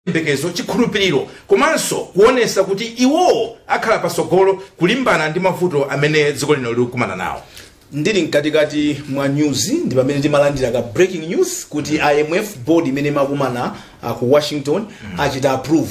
chiyembekezo, chikhulupiriro komanso kuonetsa kuti iwowo akhala patsogolo kulimbana ndi mavuto amene dziko lino likukumana nawo. Ndili mkatikati mwa news ndi pamene timalandira ka breaking news kuti IMF board imene imakumana uh, ku Washington achita approve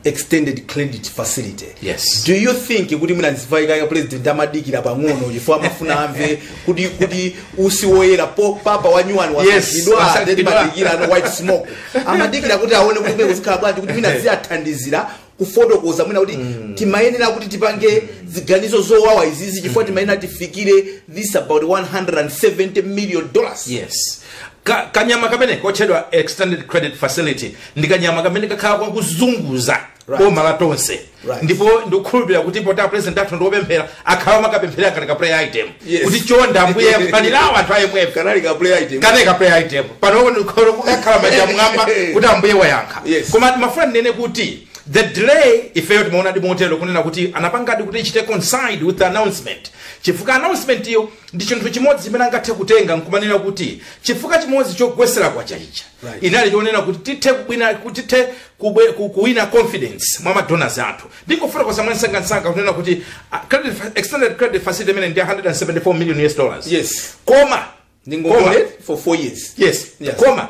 extended credit facility. Yes. Do you think kuti mwina mwina zifukwa president amadikira pang'ono chifukwa amafuna amve kuti kuti utsi woyera poti papa wanyuwani Yes, wasankhidwa wasankhidwa. amadikira the white smoke. amadikira kuti aone kuti kumeneko zikhala bwanji kuti mwina ziyathandizira kufotokoza mwina kuti timayenera kuti tipange ziganizo zowawa izizi chifukwa timayenera tifikire this about 170 million dollars yes Ka, kanyama kamene kotchedwa extended credit facility ndi kanyama kamene kakhala kakuzunguza Right. boma la tonse Right. ndipo ndikukhulupirira kuti poti apresident athu ndiopemphera akhala akupemphera kuti ka prayer item Yes. kuti chonda ambuye fewetsani anthu a IMF kanali ka prayer item kameneka prayer item pano ndikhoza kukhala manja mwamba kuti ambuye wayankha Yes. koma ndimafuna ndinene kuti the delay ifeyo timaona ndithu motero kunena kuti anapangadi kuti ichite coincide with the announcement chifukwa announcement iyo ndi chinthu chimodzi chimene angathe kutenga nkumanena kuti chifukwa chimodzi chogwesera kwacha ichi Right. inali chonena kuti tithe kubwina kuti tithe kubwe- ku- kuwina confidence mwa madonors athu ndingofotokoza mwansangansanga kunena kuti ah, credit fa- extended credit facility imene ndi 174 million us dollars Yes. koma koma ndingongole for four years yes Yes. koma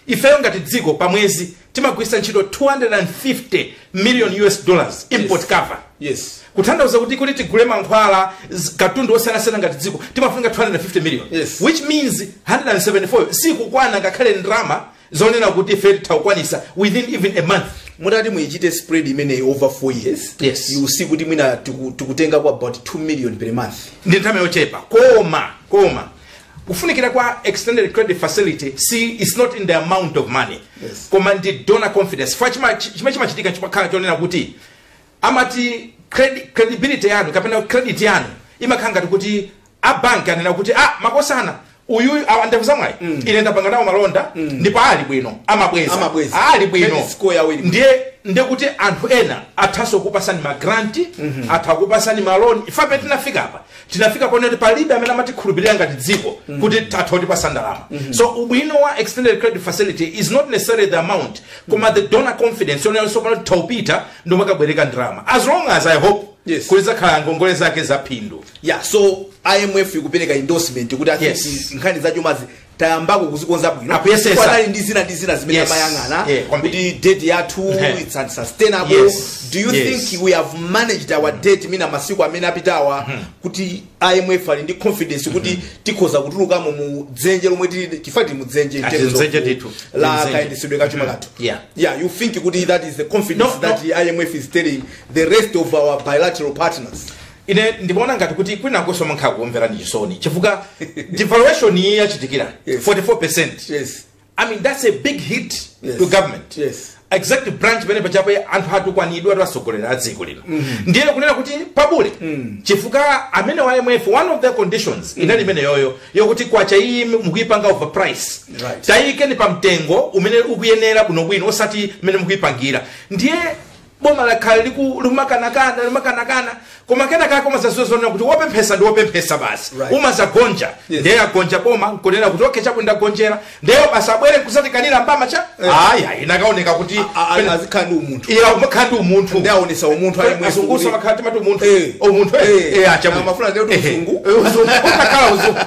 ifeyo ngati dziko pa mwezi timagwiritsa ntchito 250 million us dollars import Yes. cover yes kutanthauza kuti kuti tigule mankhwala z- katundu osiyanasiyana ngati dziko timafunika 250 million Yes. which means 174 sikukwana ngakhale ndalama zonena kuti ife titha kukwanitsa within even a month mutati muyichite spread imeneyi over 4 years Yes. you see kuti mwina tiku- tikutenga kwa about 2 million per month ndi ndalama yochepa koma koma kufunikira kwa extended credit facility si its not in the amount of money Yes. koma ndi donor confidence chifukwa chima- chimene chimachitika chikakhala chonena kuti amati credi, credibility yanu kapena credit yanu imakhala ngati kuti a bank anena kuti ah a Makosana uyu awa a Ndevuzamwayi ine ndapanga nawo malonda ndipo ali bwino amabweza Amabweza. ali bwino Credit score yawo ili bwino. ndiye ndiye kuti anthu ena athanso kukupasani magranti atha kukupasani maloni ife apa tinafika apa tinafika ponena kuti palibe amene amatikhulupirira ngati dziko kuti atha kutipasa ndalama so ubwino wa extended credit facility is not necessarily the amount koma the donor confidence yonena so pano titha kupita ndi kukabwereka ndalama as long as i hope Yes. kuti zizakhala ngongole zake za phindu yeah so imf ikupereka endorsement kuti ati Yes. izi nkhani za chumazi tayambako kuzikonza bwino Akuyesesa. Ndipo panali ndi zina ndi zina zimene Yes. amayang'ana Yeah, kwambiri. kuti debt yathu Mhm. it's unsustainable Yes. do you Yes. think we have managed our debt mwina masiku amene apitawa kuti imf ali ndi confidence kuti tikhoza kutulukamo mu dzenje lomwe tili chifukwa tili mu dzenje in terms of mdzenje ku- ndithu. la Mdzenje. kayendetsedwe ka chuma chathu Yeah. yeah you think kuti that is the confidence No, that imf is telling the rest of our bilateral partners ine ndimaona ngati kuti kwinakonso amakhala akukumverani chisoni chifukwa devaluation iyi yachitikira Yes. 44 yes i mean that's a big hit yes. to government yes. executive branch pamene pachapa anthu atukwanidwa ndi atsogoleri a dziko lino ndiye kunena kuti pabule mm. chifukwa amenewa a imf one of the conditions mm. inali imeneyoyo yokuti kwacha iyi mukuyipanga over price Right. tayikeni pa mtengo umene ukuyenera bwinobwino osati mmene mukuyipangira ndiye Boma lakhala likumakanakana limakanakana koma kenaka umazaziwa zonena kuti wopemphesa ndi wopemphesa basi right. umazagonja yes. ndiye agonja boma nkunena kuti okhe chabwino ndagonjera ndiye basi abwere nkuzatikanira ndalama cha yeah. aya inakaoneka kuti azikhala ndi umunthu eya umakhala ndi umunthu ndiye aonesa umunthu azungu amakhala timati umunthu eh. umunthu eh, eh. eh achimwene amafuna ndiye uzungu uzungu utakhala uzungu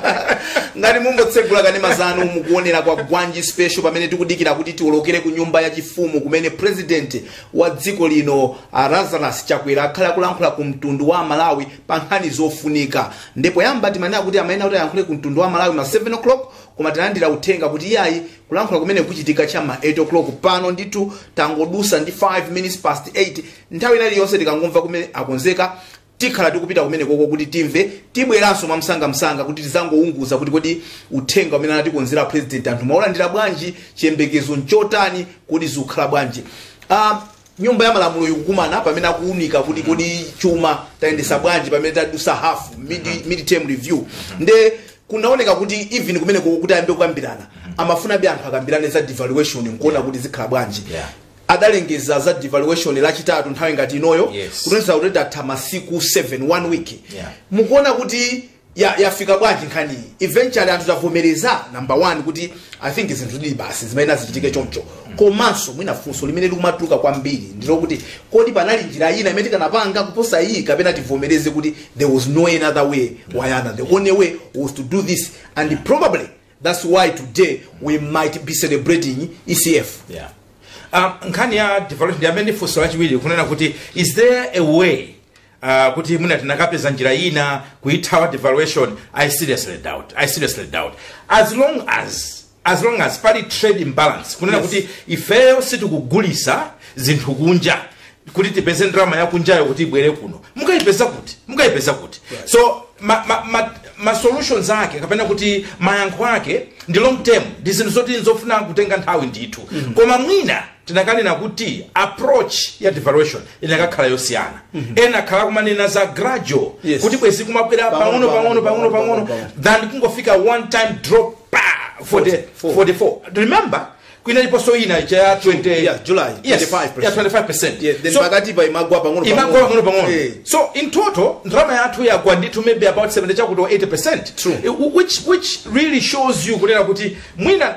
ngati mungotsegula kanema zanu mukuonera Kwagwanji special pamene tikudikira kuti tiolokere ku nyumba ya chifumu kumene president wa dziko lino a Lazarus Chakwera akhale akulankhula ku mtundu wa aMalawi pa nkhani zofunika ndipo poyamba timanena kuti amayenera kuti alankhule ku mtundu wa aMalawi ma 7 o'clock koma tinalandira uthenga kuti iyayi kulankhula kumeneku kuchitika cha ma 8 o'clock pano ndithu tangodusa ndi 5 minutes past 8 nthawi ina iliyonse tikangomva kunena akonzeka tikhala tikupita kumenekoko kuti timve tibweranso mwamsangamsanga kuti tizaunguze kuti kodi uthenga umene anatikonzera a president anthu mwaulandira bwanji chiyembekezo nchotani kodi zikhala bwanji uh, nyumba ya malamulo ikukumana pamene akuunika kuti kodi chuma tayendesa bwanji pamene tadusa hafu mid, mid term review nde kunaoneka kuti even kumenekoko kuti ayambe kukambirana amafunabe anthu akambirane za devaluation nkuona kuti zikhala bwanji Yeah. adalengeza za devaluation lachitatu nthawi ngati inoyo Yes. kutanthauza kuti tatha masiku 7 one week Yeah. mukuona kuti ya- yafika bwanji nkhaniyi eventually anthu tavomereza number one kuti i think zinthu zilibe zimene zichitike choncho komanso mwina funso limene likumatuluka kwambiri ndilokuti kodi panali njira ina imene tikanapanga kuposa iyi kapena tivomereze kuti there was no another way way ina the only way was to do this and probably That's why today we might be celebrating ECF. Yeah. Um, nkhani ya devaluation imene funso lachiwiri kunena kuti is there a way uh, kuti mwina tinakapeza njira ina kuithawa devaluation i seriously doubt i seriously doubt as long as as long as pali trade imbalance kunena Yes. kuti ifeyo sitikugulisa zinthu kunja kuti tipeze ndalama yakunjayo kuti ibwere kuno mukaipeza kuti mungaipeza kuti so ma, ma, ma, ma solutions ake kapena kuti mayankho ake ndi long term ndi zinthu zoti ndi zofuna kutenga nthawi ndithu mm-hmm. koma mwina tinakanena kuti approach ya devaluation inakakhala yosiyana mm-hmm. ena akhala kumanena za gradual Yes. kuti bwezi kumabwera Pang'ono, pang'ono pang'ono, pang'ono pang'ono, pang'ono pang'ono. than kungofika one time drop pa 40, 44. 44 remember inaliponso ina ija ya 20 Yeah, July, Yes, 25%. ya 25% Yeah, then So, pakati pa imagwa pang'ono imagwa pang'ono pang'ono Eh. so in total ndrama yathu yagwa ndithu maybe about 70 chakuti 80 percent True. which, which really shows you kunena kuti mwina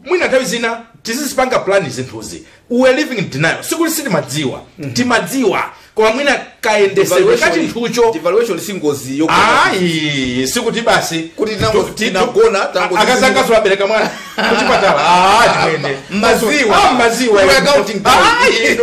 mwina nthawi zina tizizipanga plan zinthuzi we are living in denial sikuti sitimadziwa timadziwa koma mwina kayendesedwe ka chinthucho devaluation si ngozi yokuti ayi sikuti basi Kuti tinango- tu- ti- tinagona, tu- tango- akazanga abereka mwana kuchipatala Ah, chimwene. Maziwa. Ah, maziwa Iwe accounting Ayi.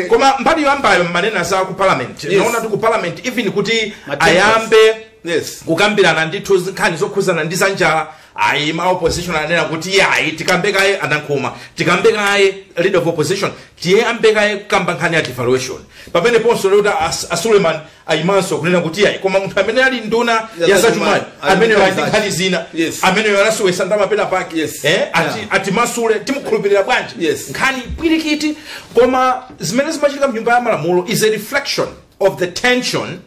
koma mbali yoyambayo mmanena za ku parliament Yes. naona kuti ku parliament even kuti Matenda. ayambe yes kukambirana ndithu nkhani zokhuzana ndi zanjala ayi ma opposition anena kuti yayi tikambe kaye anankhuma tikambe kaye leader of opposition tiyambe kaye kukamba nkhani ya devaluation pamene ponso lero ta As- a Suleman ayimanso kunena kuti yayi koma munthu amene ali nduna Ya ya zachumayo zachumayo, ali amene ndi ali ndi nkhani zina Yes. amene anasowesa ndalama pena pake Yes. eh, ati, Yeah. atimasule timukhulupirira bwanji Yes. nkhani pwirikiti koma zimene zimachitika mnyumba ya malamulo is a reflection of the tension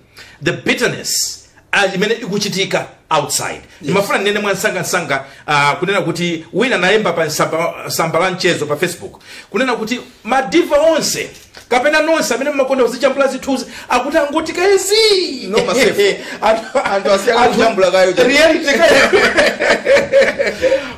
the bitterness ah, imene ikuchitika outside ndimafuna ndinene mwansangansanga ah, kunena kuti wina anayemba pa tsamba- tsamba la mchezo pa facebook kunena kuti madiva onse kapena nonse amene mmakonda kuzijambula zithunzi akuti angotika ezi No masefu. Anthu- Anthu asiya kaye anthu- kujambula kaye. reality kaye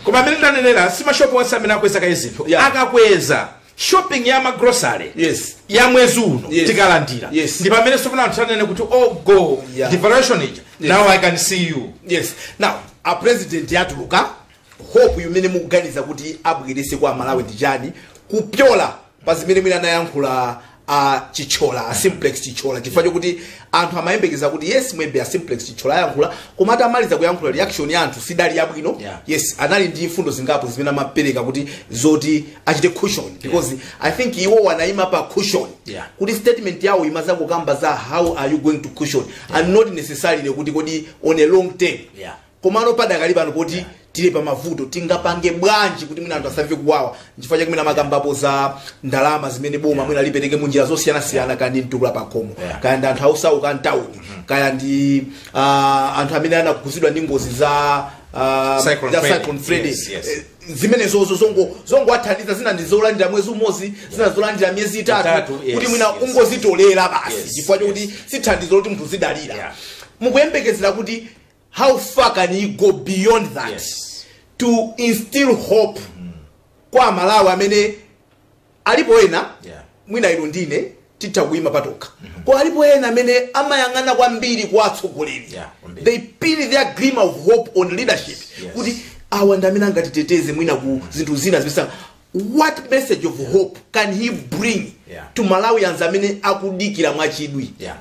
koma amene ndanenera si mashopu onse amene akweza kaye zinthu Yeah. akakweza shopping ya ma grocery Yes. ya mwezi uno Yes. tikalandira Yes. ndi pamene sopano anthu anene kuti oh go Yeah. devaluation ija Yes. now i can see you yes now a president yatuluka hope imene mukuganiza kuti abwerese kwa amalawi ndi chani kupyola pa zimene mwina anayankhula a chithyola a simplex chithyola chifukwa chokuti anthu amayembekeza kuti yes maybe a simplex chithyola ayankhula koma atamaliza kuyankhula reaction ya anthu sidali yabwino Yeah. yes anali ndi mfundo zingapo zimene amapereka kuti zoti achite cushion because i think iwo anayima pa cushion Yeah. kuti statement yawo imadzakukamba za how are you going to cushion and not necessarily kuti kodi on a long term Yeah. Komano padakali pano poti tili pamavuto, tingapange bwanji kuti mwina anthu asamve kuwawa? Nchifukwa chake mwina amakambapo za ndalama zimene boma mwina lipereke munjira zosiyanasiyana, kaya ndi mtukula pakhomo, Yeah. kaya ndi anthu osauka a mtawuni, kaya ndi ah, anthu amene anakhudzidwa ndi ngozi za ah, Cyclone za Freddy. Cyclone Freddy. Yes, yes. Eh, zimenezozo zongo- zongowathandiza zina ndi zolandira mwezi umodzi zina zolandira miyezi itatu Itatu, kuti yes, mwina yes. ungozitolera basi Yes, chifukwa chokuti si thandizo loti munthu azidalira Yeah. mukuyembekezera kuti how far can you go beyond that yes. to instill hope mm. kwa amalawi amene alipo ena yeah. mwina inu ndi ine titha kuima patokha mm -hmm. koma alipo ena amene amayang'ana kwambiri kwa atsogoleri yeah, they pin their gleam of hope on leadership yes. kuti awa ndi amene angatiteteze mwina ku zinthu zina zimenezi what message of yeah. hope can he bring yeah. to malawians amene akudikira mwachidwi yeah.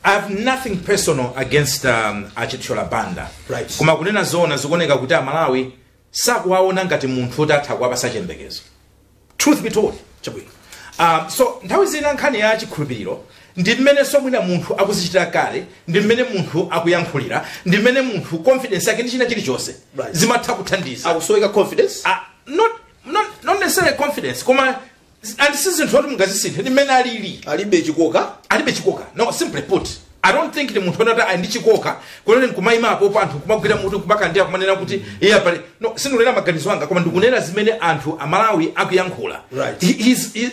I have nothing personal against um, achithyola banda Right. koma kunena zoona zikuoneka kuti amalawi sakuwaona ngati munthu woti atha kuwapasa chiyembekezo truth be told chabwino um, so nthawi zina nkhani ya chikhulupiriro ndi mmenenso mwina munthu akuzichitira kale ndi mmene munthu akuyankhulira ndi mmene munthu confidence yake ndi china chilichonse Right. zimatha kuthandiza akusoweka confidence Ah, not, not, not necessarily confidence koma and si zinthu oti mungazisinthe ndi mmene alili alibe chikoka alibe chikoka no simply put i don't think ndi munthu onena kuti ali ndi chikoka kunena nkumayima apopo anthu kumagwira mutu kumakandira kumanena kuti iye apale no sindikunena maganizo anga koma ndikunena zimene anthu amalawi akuyankhula Right. He- he's- he-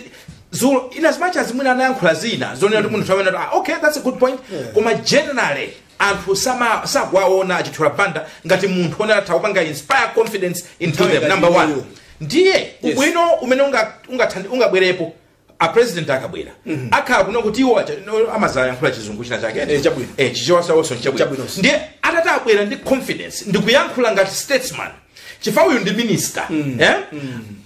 zulo in as much as mwina anayankhula zina zonena kuti munthu anena ah, okay that's a good point koma generally anthu sama sakuwaona achithyola banda ngati munthu woti atha kupanga inspire confidence into Nthawi them ngati number one imeneyo. ndiye ubwino umene unga- ungathandi- ungabwerepo a president akabwera akhala kunena kuti iwo acha- no, amazayankhula chizungu china chake Eh, chabwino. eh, chichewa chawonso nchabwino Chabwinonso. ndiye atati abwere ndi confidence ndikuyankhula ngati statesman chifukwa uyu ndi minister eh?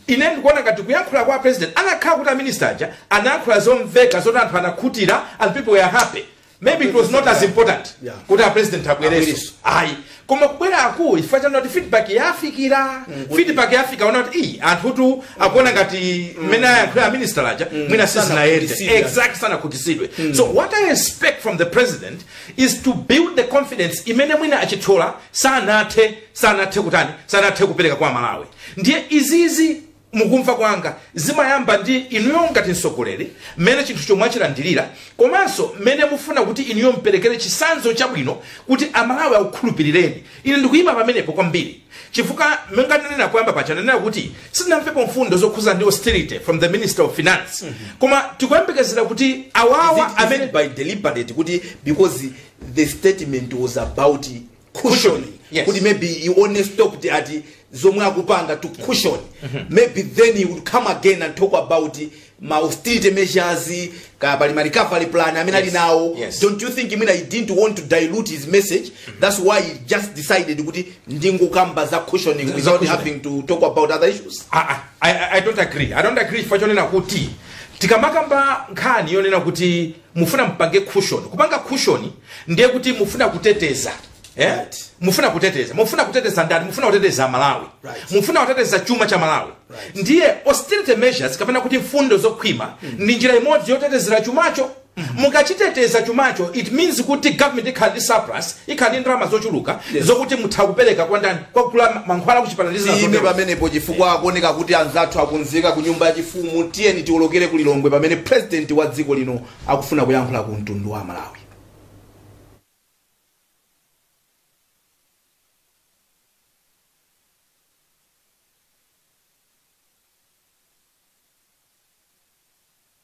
ine ndikuona ngati kuyankhula kwa president kunakakhala kuti aminista aja anayankhula zomveka zoti anthu anakhutira and people were happy maybe it was not as important Yeah. kuti apresident abwereso Abwereso. ayi koma kubweraku ndi chifukwa chonena kuti feedback yafika feedback yafika yonena kuti ayi anthutu akuona ngati mmene ayankhula aminister aja mwina sizinayende Sanakhutisidwa. exact sanakhutisidwe so what i expect from the president is to build the confidence imene mwina achithyola sanathe sanathe kutani sanathe kupereka kwa amalawi ndiye izizi mukumva kwanga zimayamba ndi inuyo ngati mtsogoleri mmene chinthucho mwachilandirira komanso mmene mufuna kuti inuyo mperekere chisanzo chabwino kuti amalawi akukhulupirireni ine ndikuyima pamenepo kwambiri chifukwa monga ndinanena poyamba paja ndinanena kuti sitinamvepo mfundo zokhuza ndi austerity from the minister of finance koma tikuyembekezera kuti awawa amene mwina by deliberate kuti because the statement was about cushion Yes. kuti maybe he only stopped at zomwe akupanga to cushion maybe then he would come again and talk about ma austerity measures ka pali ma recovery plan amene ali Yes. nawo Yes. don't you think imene he didn't want to dilute his message that's why he just decided kuti ndingokamba za cushioning Za without cushioning. having to talk about other issues Ah, ah, I, I- I don't agree i don't agree chifukwa chonena kuti tikamakamba nkhani yonena kuti mufuna mpange cushion kupanga cushion ndiye kuti mufuna kuteteza mufuna kuteteza ndani mufuna kuteteza malawi mufuna kuteteza chuma cha malawi ndiye austerity measures kapena kuti mfundo zokhwima ndi njira imodzi yotetezera chumacho mukachiteteza chumacho it means kuti government ikhala ndi surplus ikhala ndi ndalama zochuluka zokuti mutha kupereka kwa ndani kukagula mankhwala akuchipatala ndi zina zotero tiyime pamenepo chifukwa akuoneka kuti anzathu akonzeka ku nyumba yachifumu tiyeni tiwolokere ku lilongwe pamene purezidenti wa dziko lino akufuna kuyankhula ku mtundu wa amalawi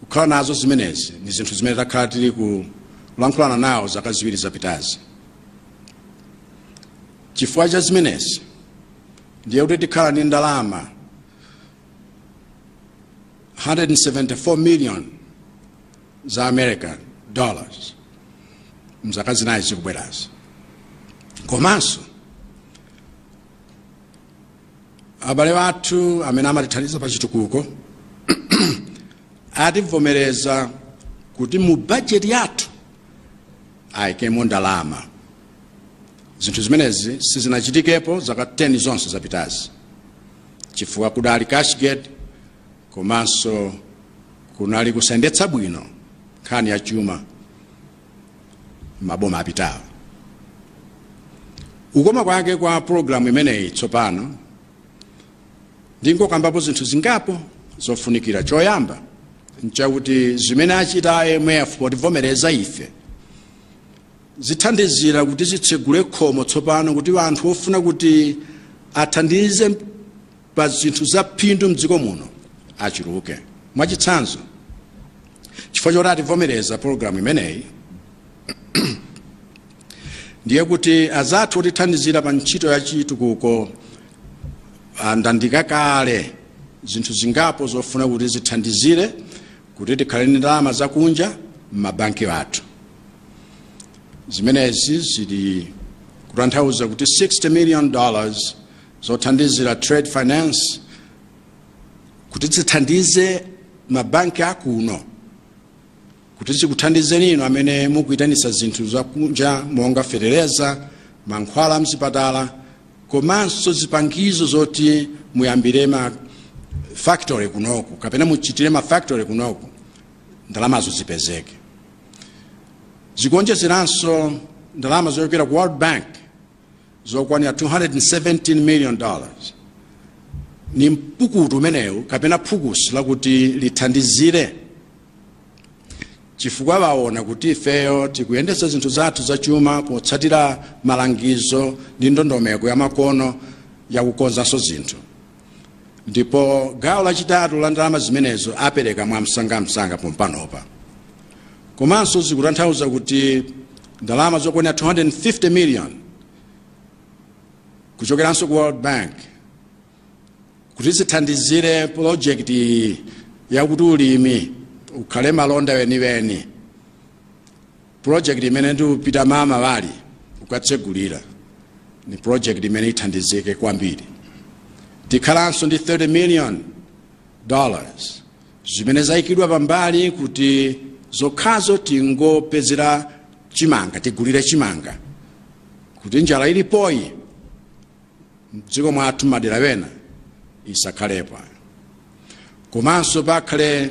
kukhala nazo zimenezi ndi zinthu zimene takhala tili kulankhulana nawo zaka ziwiri zapitazi chifukwa cha zimenezi ndiye kuti tikhala ndi ndalama 174 million za american dollars mzaka zinayi zikubwerazi komanso abale athu amene amatithandiza pa chitukuko ativomereza kuti mu bajeti yathu ayikemo ndalama zinthu zimenezi sizinachitikepo zaka 10 zonse zapitazi chifukwa kudali cashgate komanso kunali kusayendetsa bwino nkhani ya chuma maboma apitawo kukoma kwake kwa pologalamu imeneyi tsopano ndingokambapo zinthu zingapo zofunikira choyamba nchakuti zimene achita a imf potivomereza ife zithandizira kuti zitsegule khomo tsopano kuti anthu ofuna kutithandiza pa zinthu za phindu mdziko muno achuluke. Mwachitsanzo, chifukwa choti ativomereza pologalamu imeneyi ndiye kuti azathu otithandizira pa ntchito ya chitukuko andandika kale zinthu zingapo zofuna kuti zithandizire kuti tikhale ndi ndalama zakunja m'mabanki athu zimenezi zili kutanthauza kuti 60 million dollars zothandizira trade finance kuti zithandize mabanki akuno kuti zikuthandizeni inu amene mukuyitanisa zinthu zakunja monga fetereza mankhwala amzipatala komanso zipangizo zoti muyambire ma factory kunoku kapena muchitire ma factory kunoku ndalamazo zipezeke zikuonjezeranso ndalama zochokera ku world bank zokwanira 217 million dollars ni mpukutu umenewu kapena phukusi lakuti lithandizire chifukwa aona kuti ifeyo tikuyendetsa zinthu zathu zachuma potsatira malangizo ndi ndondomeko yamakono yakukonzanso zinthu ndipo gawo lachitatu la ndalama zimenezo apereka mwamsangamsanga pompanopa komanso zikutanthauza kuti ndalama zokwanira 250 million kuchokeranso ku world bank kuti zithandizire pulojekiti iyi yakuti ulimi ukhale malonda weniweni Project imene ndikupita mmawali kukatsegulira ni project imene ithandizike kwambiri. Tikhalanso ndi 30 million dollars zimene zaikidwa pambali kuti zokhazo tingopezera chimanga tigulire chimanga kuti njala ilipoyi mdziko mwathu m'madera ena isakhalepo komanso pakhale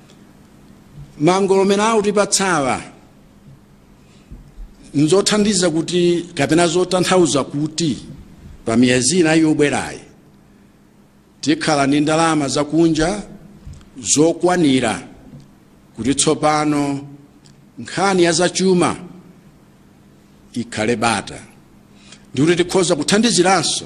mangolomera awa tipatsawa nzothandiza kuti kapena zotanthauza kuti pa miyezi inayi yobwerayi tikhala ndi ndalama zakunja zokwanira kuti tsopano nkhani ya zachuma ikhale bata ndikuti tikhoza kuthandiziranso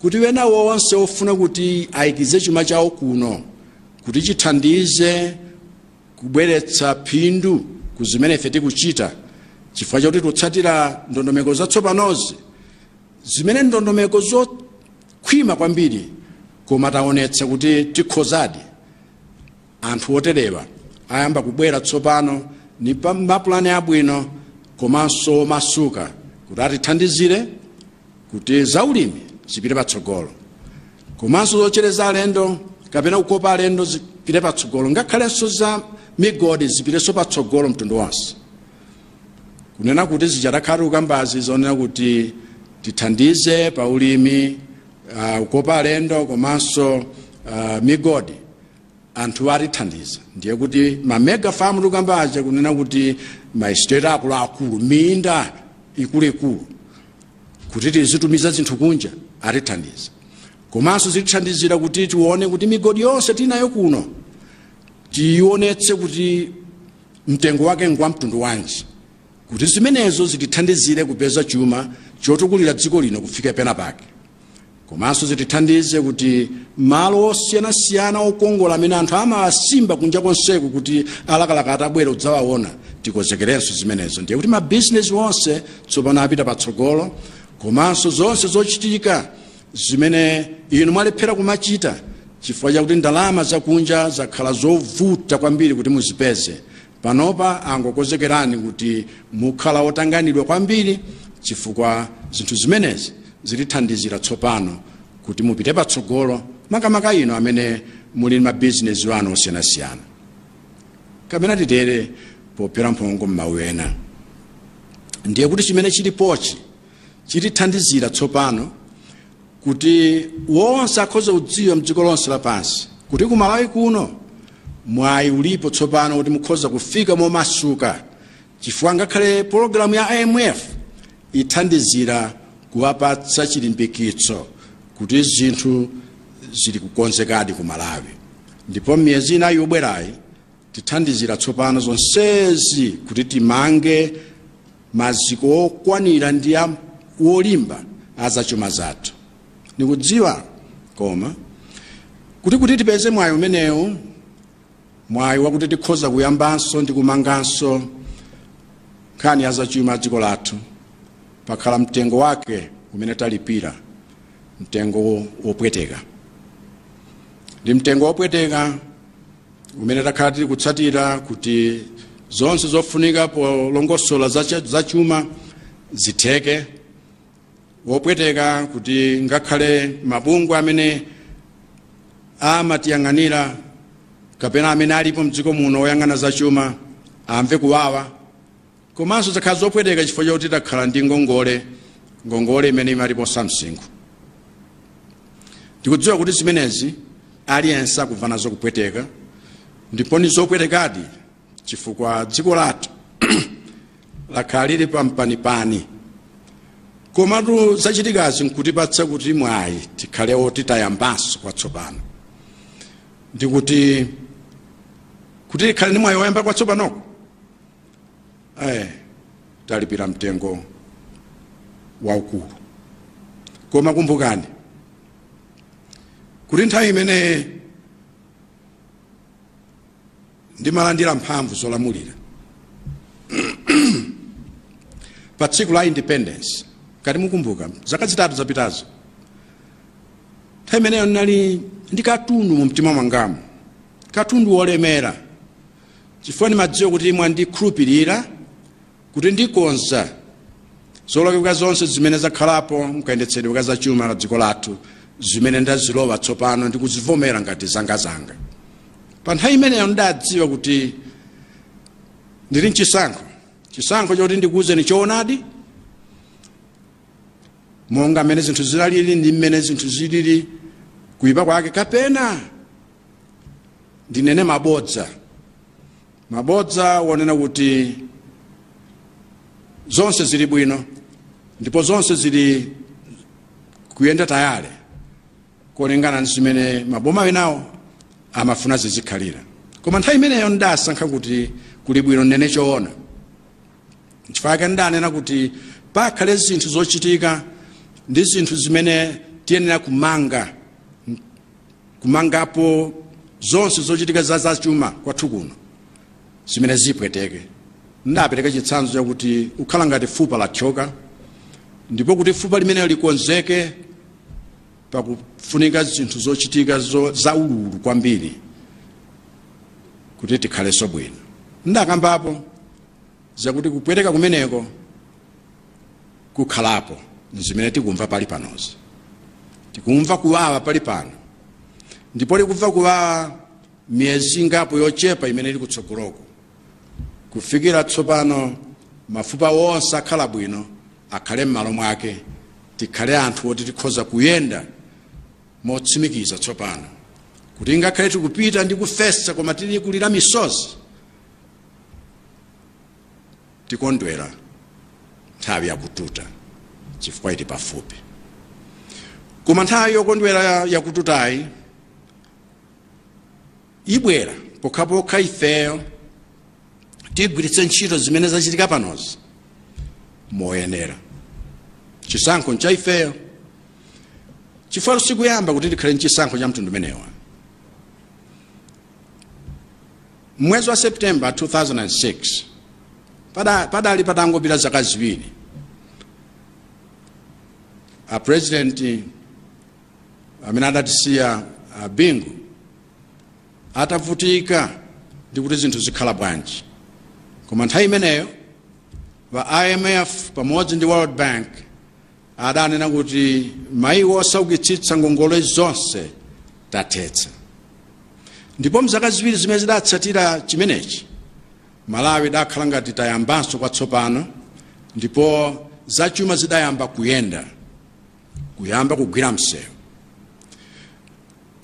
kuti ena onse ofuna kuti ayikize chuma chawo kuno kuti chithandize kubweretsa phindu ku zimene ife tikuchita chifukwa chakuti tikutsatira ndondomeko zatsopanozi zimene ndondomeko zokhwima kwambiri koma taonetsa kuti tikhozadi anthu oterewa ayamba kubwera tsopano ni pa mapulani abwino komanso omasuka kuti atithandizire kuti zaulimi zipite patsogolo komanso zochereza alendo kapena kukopa alendo zipire patsogolo ngakhalenso za migodi zipirenso patsogolo mtundu wonse kunena kuti zija takhala tikukambazi zonena kuti tithandize pa ulimi uh, kukopa alendo komanso uh, migodi anthu atithandiza ndiye kuti ma mega farm tikukamba aja kunena kuti ma estate akuluakulu minda ikuluikulu kuti tizitumiza zinthu kunja atithandiza komanso zitithandizira kuti tione kuti migodi yonse tinayo kuno tionetse kuti mtengo wake ngwa mtundu wanji kuti zimenezo zitithandizire kupeza chuma chotukulira dziko lino kufika pena pake komanso zitithandize kuti malo osiyanasiyana okongola amene anthu amawasimba kunja konseku kuti alakalaka atabwera kudzawaona tikonzekerenso zimenezo ndiye kuti mabizinesi onse tsopano apita patsogolo komanso zonse zochitika zimene inu mwalephera kumachita chifukwa chakuti ndalama zakunja zakhala zovuta kwambiri kuti muzipeze Panopa angokonzekerani kuti mukhala otanganidwa kwambiri chifukwa zinthu zimenezi zitithandizira tsopano kuti mupite patsogolo makamaka inu amene muli mabizinesi anu osiyanasiyana kapena titere pophera mphongo m'mawu ena ndiye kuti chimene chilipochi chitithandizira tsopano kuti wonse akhoza kudziwa mdziko lonse lapansi kuti ku malawi kuno mwayi ulipo tsopano kuti mukhoza kufika momasuka chifukwa ngakhale pologalamu ya imf ithandizira kuwapatsa chilimbikitso kuti zinthu zili kukonzekadi ku malawi ndipo mmiyezi inayi yobwerayi Tithandizira tsopano zonsezi kuti timange maziko okwanira ndi wolimba a zachuma zathu. Ndikudziwa koma kuti kuti tipeze mwayi umenewu, mwayi wakuti tikhoza kuyambanso ndi kumanganso nkhani ya zachuma ya dziko lathu, pakhala mtengo wake umene talipira, mtengo wopweteka. Ndi mtengo wopweteka umene takhala tili kutsatira kuti zonse zofunika polongosola zachuma zitheke wopweteka kuti ngakhale mabungwe amene amatiyang'anira kapena amene alipo mdziko muno oyang'ana zachuma amve kuwawa Komanso zakhala zopweteka chifukwa chakuti takhala ndi ngongole, ngongole imene imatiposa msinkhu. Ndikudziwa kuti zimenezi aliyense akumva nazo kupweteka ndipo ndi zopwetekadi chifukwa dziko lathu lakhala lili pampanipani. Komatu zachitikazi nkutipatsa kuti mwayi tikhale oti tayambanso kwatsopano. Ndikuti kuti tikhale ndi mwayi woyamba kwatsopanoko talipira mtengo waukulu koma kumbukani kuti nthawi imene ndimalandira mphamvu zolamulira pa tsiku la independence ngati mukumbuka zaka zitatu zapitazo nthawi imeneyo ndinali ndi katundu mu mtima mwangamo katundu wolemera chifukwa ndimadziwa kuti inu mwandikhulupirira kuti ndikonza zolakwika zonse zimene zakhalapo mkayendetsedwe ka zachuma la dziko lathu zimene ndazilowa tsopano ndi kuzivomera ngati zangazanga pa nthawi imeneyo ndidadziwa kuti ndili mchisankho chisankho choti ndikuwuzeni choonadi monga mmene zinthu zinalili ndi mmene zinthu zilili kuyipa kwake kapena ndinene mabodza mabodza wonena kuti zonse zili bwino ndipo zonse zili kuyenda tayale kulingana ndi zimene maboma enawo amafuna zizikhalira koma nthawi imeneyo ndidasankha kuti kuli bwino ndinene choona chifukwa chake ndidanena kuti pakhale zinthu zochitika ndi zinthu zimene tiyenera kumanga kumangapo zonse zochitika za zachuma kwathu kuno zimene zipweteke ndidapereka chitsanzo chakuti ukhala ngati fupa lathyoka ndipo kuti fupa limeneli likonzeke pakufunika zinthu zochitika zo, za ululu kwambiri kuti tikhalenso bwino ndidakambapo zakuti kupweteka kumeneko kukhalapo nzimene tikumva pali panozi tikumva kuwawa pali pano ndipo tikumva kuwawa miyezi ingapo yochepa imene ili kutsogoloko kufikira tsopano mafupa onse akhala bwino akhale m'malo mwake tikhale anthu oti tikhoza kuyenda motsimikiza tsopano kuti ngakhale tikupita ndi kufesa koma tili kulira misozi Tikondwera nthawi yakututa chifukwa ili pafupi. Koma nthawi yokondwera yakututayi ibwera pokhapokha ifeyo tigwiritse ntchito zimene zachitika panozi moyenera. Chisankho ncha ifeyo, chifukwa sikuyamba kuti tikhale ndi chisankho cha mtundu umenewu. M'mwezi wa September 2006, padali patangopita zaka ziwiri a president amene adatisiya a Bingu atavutika ndi kuti zinthu zikhala bwanji, koma nthawi imeneyo a IMF pamodzi ndi World Bank adanena kuti mayiko osaukitsitsa ngongole zonse tathetsa ndipo mzaka ziwiri zimene zidatsatira chimenechi malawi idakhala ngati tayambanso kwatsopano ndipo zachuma zidayamba kuyenda kuyamba kugwira msewu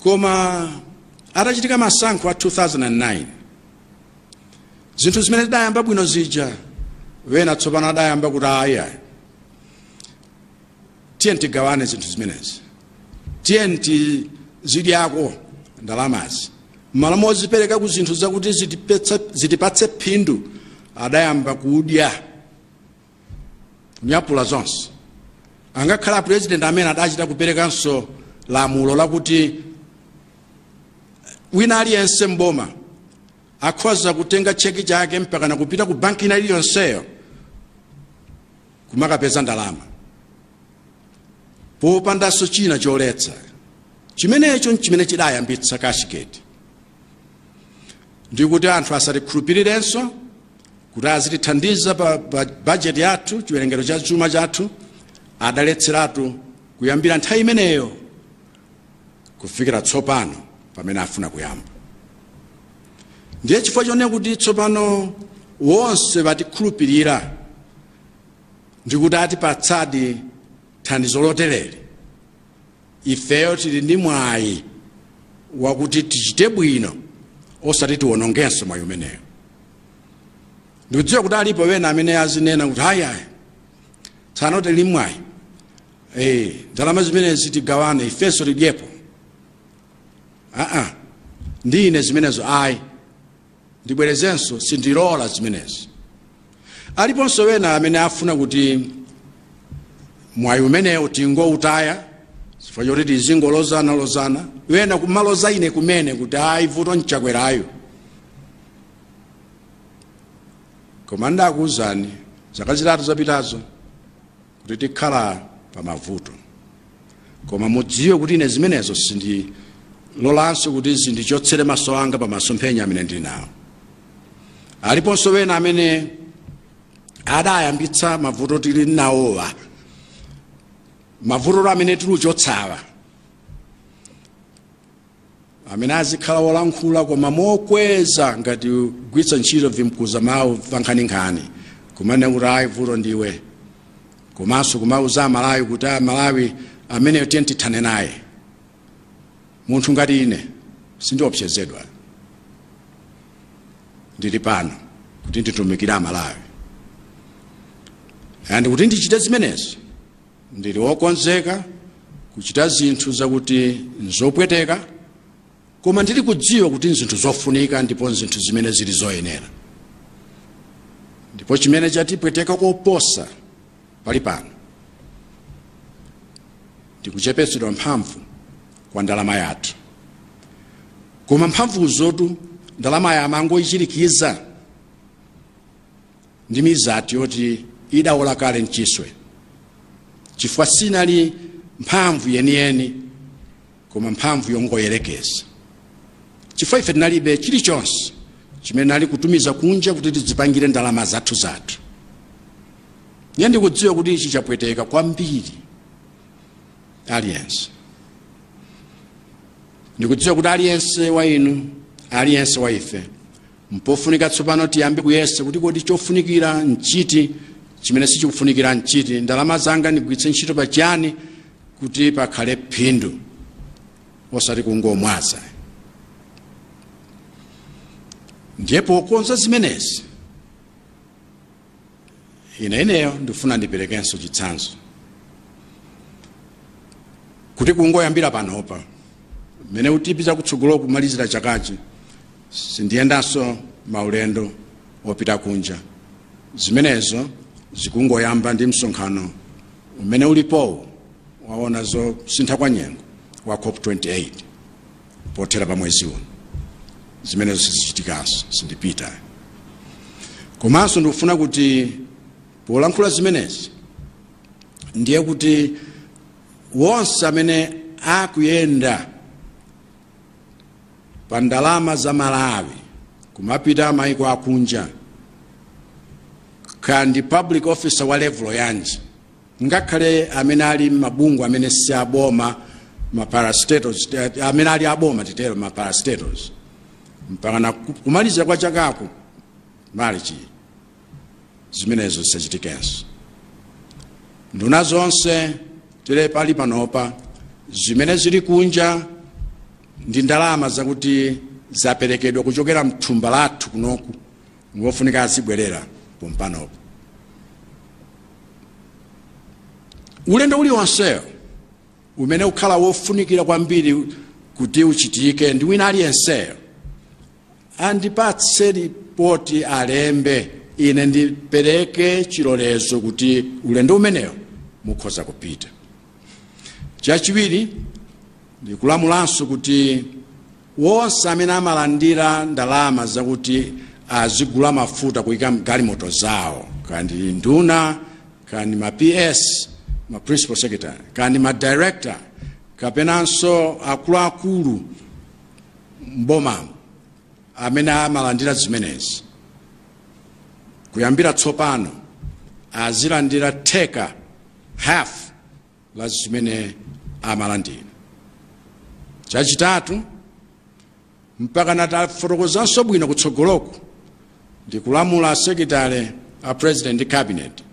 koma atachitika masankho a 2009 zinthu zimene zidayamba bwino zija wena tsopano adayamba kuti ayi ayi tiye tigawane zinthu zimenezi tiye tizidyako ndalamazi mmalo mozipereka ku zinthu zakuti zitipatse phindu adayamba kudya kunyapula zonse angakhale apurezidenti amene adachita kuperekanso lamulo lakuti wina aliyense mboma akhoza kutenga cheki chake mpakana kupita ku banki ina iliyonseyo kumakapeza ndalama popandanso china choletsa chimenecho nchimene chidayambitsa kashigeti ndikuti anthu asatikhulupirirenso kuti azitithandiza pa, pa bajeti yathu chiwerengero cha chuma chathu adaletseratu kuyambira nthawi imeneyo kufikira tsopano pamene afuna kuyamba ndiye chifukwa chonena kuti tsopano wonse atikhulupirira ndi kuti atipatsadi thandizo lotereli ifeyo tili ndi mwayi wakuti tichite bwino osati tiwonongenso mwayi umenewo ndikudziwa kuti alipo wena amene azinena kuti ayi ayi tsano tili mwayi Hey, ndalama zimenezi tigawane ifenso tidyepo aa ndi ine zimenezo ayi ndibwerezenso sindilola zimenezi aliponso wena amene afuna kuti mwayi umenewo tingoutaya chifukwa choti tizingolozana lozana wena kumaloza ine kumene kuti ayi vuto nChakwerayo koma ndakuwuzani zaka zitatu zapitazo kuti tikhala pa mavuto koma mudziwe kuti ine zimenezo sindilolanso kuti zindichotsere maso anga pa masomphenya amene ndili nawo aliponso wena amene adayambitsa mavuto tili nawowa mavuto amene tikuchotsawa amene azikhala wolankhula koma mokweza ngati kugwiritsa ntchito vimkuza mawu vankhaninkhani kumanena kuti ayi vuto ndiwe komanso kumauza amalawi kuti amalawi ameneyo tiye tithane naye munthu ngati ine sindiopsezedwa ndili pano kuti nditumikire amalawi and kuti ndichite zimenezo Ndili wokonzeka kuchita zinthu zakuti n'zopweteka, koma ndili kudziwa kuti n'zinthu zofunika ndipo n'zinthu zimene zili zoyenera. Ndipo chimene chatipweteka koposa pali pano ndi kuchepetsedwa mphamvu kwa ndalama yathu. Koma mphamvuzotu ndalama ya amangoichirikiza. ndi mizati yoti idawola kale mchiswe chifukwa sinali mphamvu yeniyeni koma mphamvu yongoyerekeza chifukwa ife tinalibe chilichonse chimene tinali kutumiza kunja kuti tidzipangire ndalama zathu zathu ndiye ndikudziwa kuti ichi chapweteka kwambiri aliyense ndikudziwa kuti aliyense wa inu aliyense wa ife mpofunika tsopano tiyambe kuyesa kuti kodi chofunikira nchiti chimene sichikufunikira nchiti ndalama zanga ndigwiritse ntchito pa chiyani kuti pakhale phindu osati kungomwaza ndiye pokonza zimenezi ine ineyo ndifuna ndiperekenso chitsanzo kuti kungoyambira panopa mmene tipita kutsogolo kumalizira chakachi sindiyendanso maulendo opita kunja zimenezo zikungoyamba ndi msonkhano umene ulipowu waona zosintha kwa nyengo wa cop 28 pothera pa mwezi uno zimenezo sizichitikanso sindipita komanso ndikufuna kuti polankhula zimenezi ndiye kuti wonse amene akuyenda pa ndalama za malawi kumapita maiko akunja kaya ndi public officer wa level yanji ngakhale amene ali m'mabungwe amene si aboma maparastatos amene ali aboma titero maparastatos mpakana kumaliza kwa chakaku malichi zimenezo zisachitikenso nduna zonse tili pali panopa zimene zili kunja ndi ndalama zakuti zaperekedwa kuchokera mthumba lathu kunoku ngofunika azibwerera pompanopo ulendo uliwonsewo umene ukhala wofunikira kwambiri kuti uchitike ndi wina aliyenseyo andipatse lipoti alembe ine ndipereke chilolezo kuti ulendo umenewo mukhoza kupita chachiwiri ndikulamulanso kuti Wonse amene amalandira ndalama zakuti azigulira mafuta kuika mgalimoto zawo, kaya ndi nduna, kaya ndi ma PS, ma principal secretary, kaya ndi ma director, kapenanso akuluakulu m'bomamu amene amalandira zimenezi, kuyambira tsopano azilandira theka, half, la zimene amalandira chachitatu mpaka nditafotokozanso bwino kutsogoloko ndikulamula asekitale a president ndi cabinet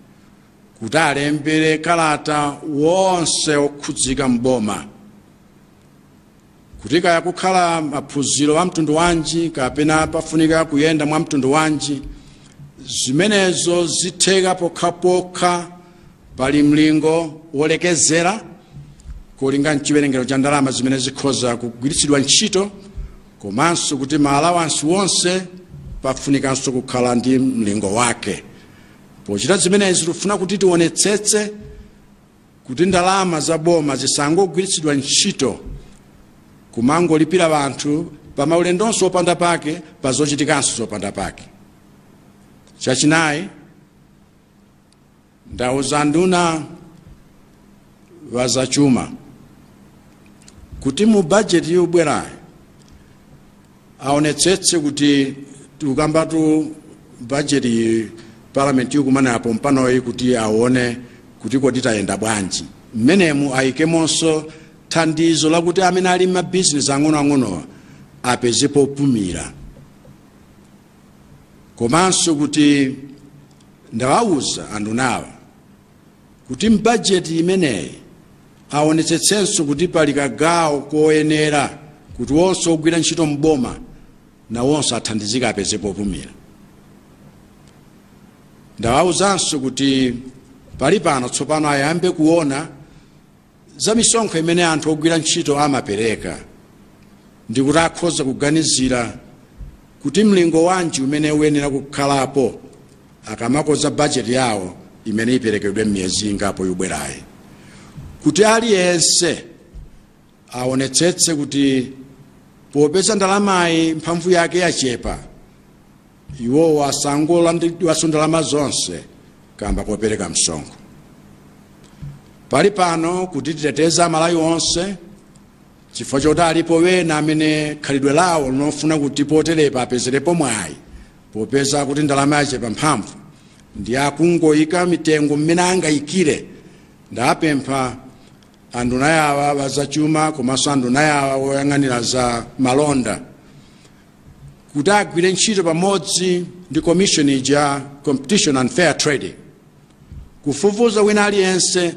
kuti alembere kalata wonse okhudzika mboma kuti kaya kukhala maphunziro a mtundu wanji kapena pafunika kuyenda mwa mtundu wanji zimenezo zitheka pokhapokha pali mlingo wolekezera kulinga n'chiwerengero cha ndalama zimene zikhoza kugwiritsidwa ntchito komanso kuti maalawansi wonse pafunikanso kukhala ndi mlingo wake pochita zimenezi tikufuna kuti tionetsetse kuti ndalama za boma zisangogwiritsidwa ntchito kumangolipira anthu pa maulendonso opanda pake pa zochitikanso zopanda pake chachinayi ndauza nduna wa zachuma kuti mu bajeti yobwerayi aonetsetse kuti tikukambatu bajeti palamenti ikumana pompanoyi kuti aone kuti kodi tayenda bwanji mmenemu ayikemonso thandizo lakuti amene ali mabizinesi ang'onoang'onowa apeze popumira komanso kuti ndawawuza andunawa kuti m'bajeti imeneyi aonetsetsenso kuti pali kagawo koyenera kuti onse ogwira ntchito m'boma nawonso athandizike apeze popumira ndawauzanso kuti palipano tsopano ayambe kuona za misonkho imene anthu ogwira ntchito amapereka ndi kuti akhoza kuganizira kuti mlingo wanji umene uyenera kukhalapo akamakonza bajeti yawo imene iperekedwe m'miyezi ingapo ikubwerayi kuti aliyense aonetsetse kuti popeza ndalamayi mphamvu yake yachepa iwowo asangolandiridwanso ndalama zonse kamba kopereka msonkho pali pano kuti titeteze amalawi onse chifukwa choti alipo wena amene khalidwe lawo ndi lofuna kuti poterepa apezerepo mwayi popeza kuti ndalama yachepa mphamvu ndi akungoyika mitengo mmene angayikire ndapempha anduna yawa wazachuma komanso anduna yawa woyang'anira za malonda kuti agwire ntchito pamodzi ndi commission ya competition and fair trading kufufuza wina aliyense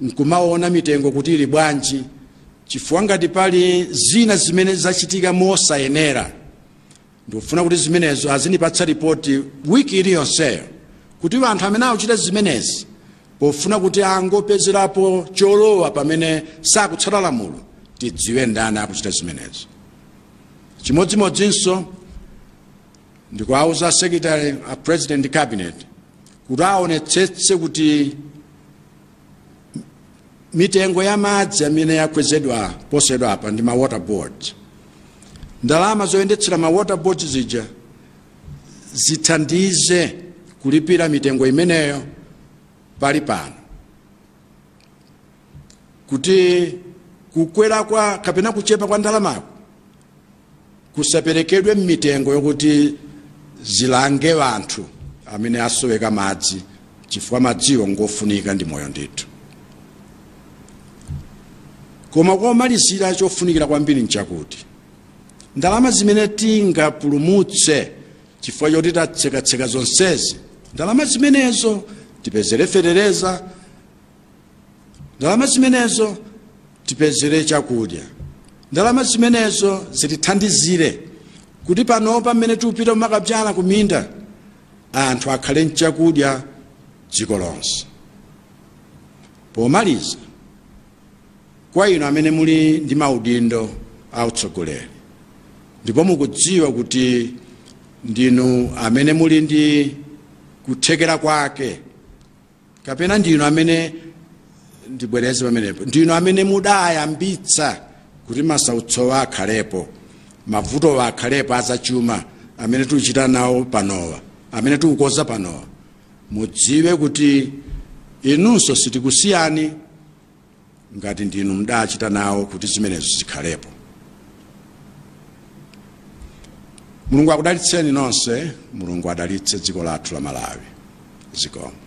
nkumaona mitengo kuti ili bwanji chifukwa ngati pali zina zimene zachitika mosayenera ndikufuna kuti zimenezo azindipatsa ripoti wiki iliyonseyo kuti anthu amene akuchita zimenezi pofuna kuti angopezerapo cholowa pamene sakutsata lamulo tidziwe ndani akuchita zimenezo chimodzimodzinso ndikuwauza a secretary a president ndi cabinet kuti aonetsetse kuti mitengo ya madzi amene yakwezedwa posachedwapa ndi ma water board ndalama zoyendetsera ma water board zija zithandize kulipira mitengo imeneyo pali pano kuti kukwera kwa kapena kuchepa kwa ndalamako kusaperekedwe m'mitengo yokuti zilange anthu amene asoweka madzi chifukwa madziwo ngofunika ndi moyo ndithu koma komalizira chofunikira kwambiri nchakuti ndalama zimene tingapulumutse chifukwa choti tatsekatseka zonsezi ndalama zimenezo tipezere fetereza ndalama zimenezo tipezere chakudya ndalama zimenezo zitithandizire kuti panopa mmene tikupita kumakabzyala kuminda anthu akhale nchakudya dziko lonse pomaliza kwa inu amene muli ndi maudindo a utsogoleri ndipo mukudziwa kuti ndinu amene muli ndi kuthekera kwake kapena ndi inu amene ndibwereze pamenepo ndi inu amene mudayambitsa kuti masautsowa akhalepo mavutowa akhalepo azachuma amene tikuchita nawo panowa amene tikukonza panowa mudziwe kuti inunso sitikusiyani ngati ndinu mdachita nawo kuti zimenezo zikhalepo mulungu akudalitseni nonse mulungu adalitse dziko lathu la malawi zikomo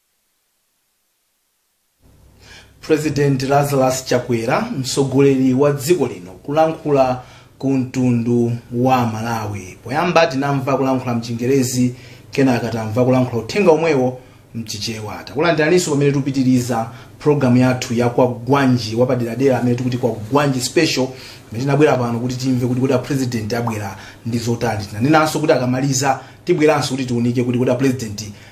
president lazarus chakwera mtsogoleri wa dziko lino kulankhula ku mtundu wa malawi poyamba tinamva kulankhula mchingerezi kenaka tamva kulankhula uthenga omwewo mchichewa takulandiraninso pamene tikupitiriza programu yathu ya kwagwanji wapaderadera amene tikuti kwagwanji special amene tinabwera pano kuti timve kuti apresident abwera ndi zotani tinanenanso kuti akamaliza tibweranso kuti tiunike kuti kuti apresident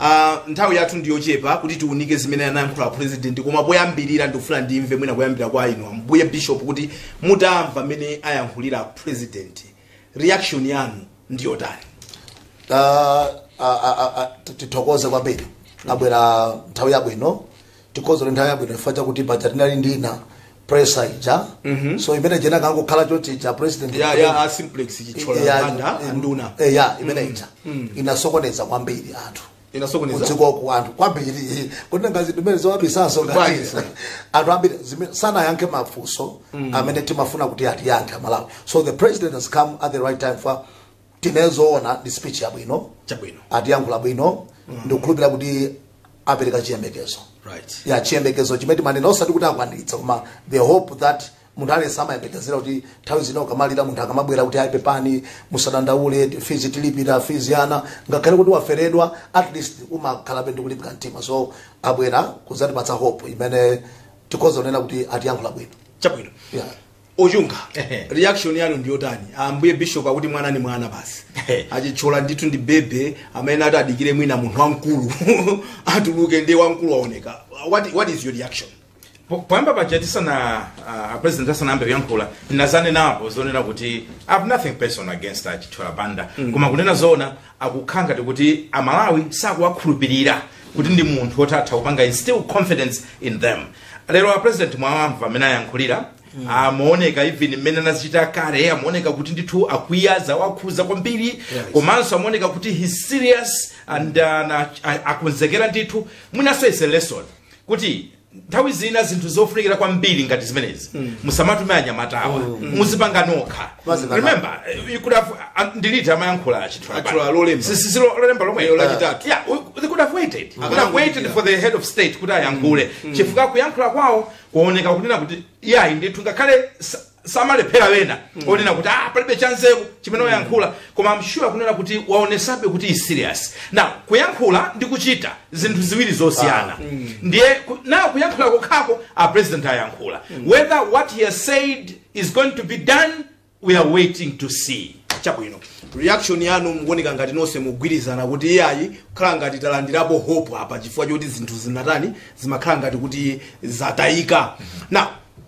Uh, nthawi yathu ndi yochepa kuti tiunike zimene anayankhula president koma poyambirira ndikufuna ndimve mwina kuyambira kwa inu ambuye bishop kuti mutamva mmene ayankhulira president reaction yanu ndi yotani Ah, ah, ah, ah, tithokoze kwambiri abwera nthawi yabwino tikhoza kuti nthawi yabwino chifukwa chakuti paja tinali ndi ina presser ija so imene ija inakangokhala choti ija presser ya ya a simplex chithyola Ya, banda in- anduna eh, ya imene ija inasokoneza kwambiri anthu inasokoneza kudziko ku anthu kwambiri kuti ngazi ndimene zowabisanso ngati Bwanji, sir? anthu ambiri zime- sanayankhe mafunso amene timafuna kuti atiyankhe amalawi so the president has come at the right time for tinene zoona ndi speech yabwino chabwino atiyankhula bwino ndikukhulupirira kuti apereka chiyembekezo right ya chiyembekezo chimene timanena osati kuti akwaniritsa koma the hope that munthu aliyense amayembekezera kuti nthawi zina ukamalira munthu akamabwera kuti ayi pepani musadandaule fizi tilipira fizi ya ana ngakhale kuti waferedwa at least umakhalabe ndi kulimbika mtima so abwera kudzatipatsa hope imene tikhoza kunena kuti atiyankhula bwino chabwino yeah. ochunga Ehe. reaction yanu ndiyotani ambuye bishop akuti mwana ni mwana basi Ehe. achithyola ndithu ndi baby amene ati adikire mwina munthu wamkulu atuluke ndi wamkulu waoneka what, what is your reaction Po- poyamba paja tisana uh, president asanayambe kuyankhula ndinadzanenapo zonena kuti i have nothing personal against achithyola banda koma kunena zoona akukhala ngati kuti amalawi sakuwakhulupirira kuti ndi munthu woti atha kupanga instill confidence in them lero a president mwawamva mmene ayankhulira amaoneka even mmene anazichita carry amaoneka kuti ndithu akwiya zawakhudza kwambiri komanso amaoneka kuti he's serious and uh, na- a- akonzekera ndithu mwinanso is a lesson kuti nthawi zina zinthu zofunikira kwambiri ngati zimenezi musamatume anyamatawa muzipanga nokha Muzipanga. remember you could have ah, ndi liti amayankhula chithyola. Atchula lolemba. Si- si- si lo- lolemba lomwe Lero lachitatu. yeah we- they could have waited could have Akanangodikira. waited for the head of state kuti ayankhule chifukwa kuyankhula kwawo kuoneka kunena kuti yayi ndithu ngakhale sa- samalephera wena onena kuti ah palibe chanzeru chimene wayankhula koma I'm sure kunena kuti waonesabe kuti is serious now kuyankhula ndi kuchita zinthu ziwiri zosiyana ndiye now kuyankhula kokhako a president ayankhula whether what he has said is going to be done we are waiting to see chabwino reaction yanu mukuoneka ngati nonse mugwirizana kuti iyayi kukhala ngati talandirapo hope apa chifukwa choti zinthu zinatani zimakhala ngati kuti zatayika now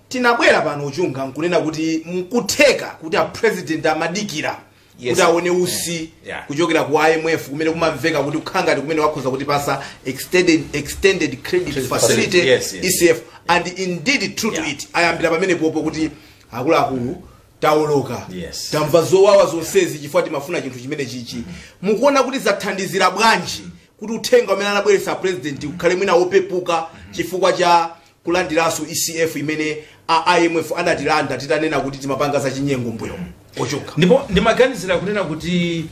tinabwera pano uchunga nkunena kuti nkutheka kuti a president amadikira Yes. kuti aone usi Yeah. Yeah. kuchokera ku imf kumene kumamveka kuti kukhala ngati kumene wakhoza kutipasa extended, extended credit facility facility, yes, yes. ecf and indeed true to Yeah. it ayambira pamenepopo kuti akuluakulu taoloka Yes. tamva zowawa zonsezi chifukwa timafuna chinthu chimenechichi mukuona kuti zathandizira bwanji kuti uthenga umene anabweretsa a president ukhale mwina wopepuka chifukwa cha kulandiranso ECF imene a IMF anatilanda titanena kuti timapanga zachinyengo mbuyomu ochoka ndipo ndimaganizira kunena kuti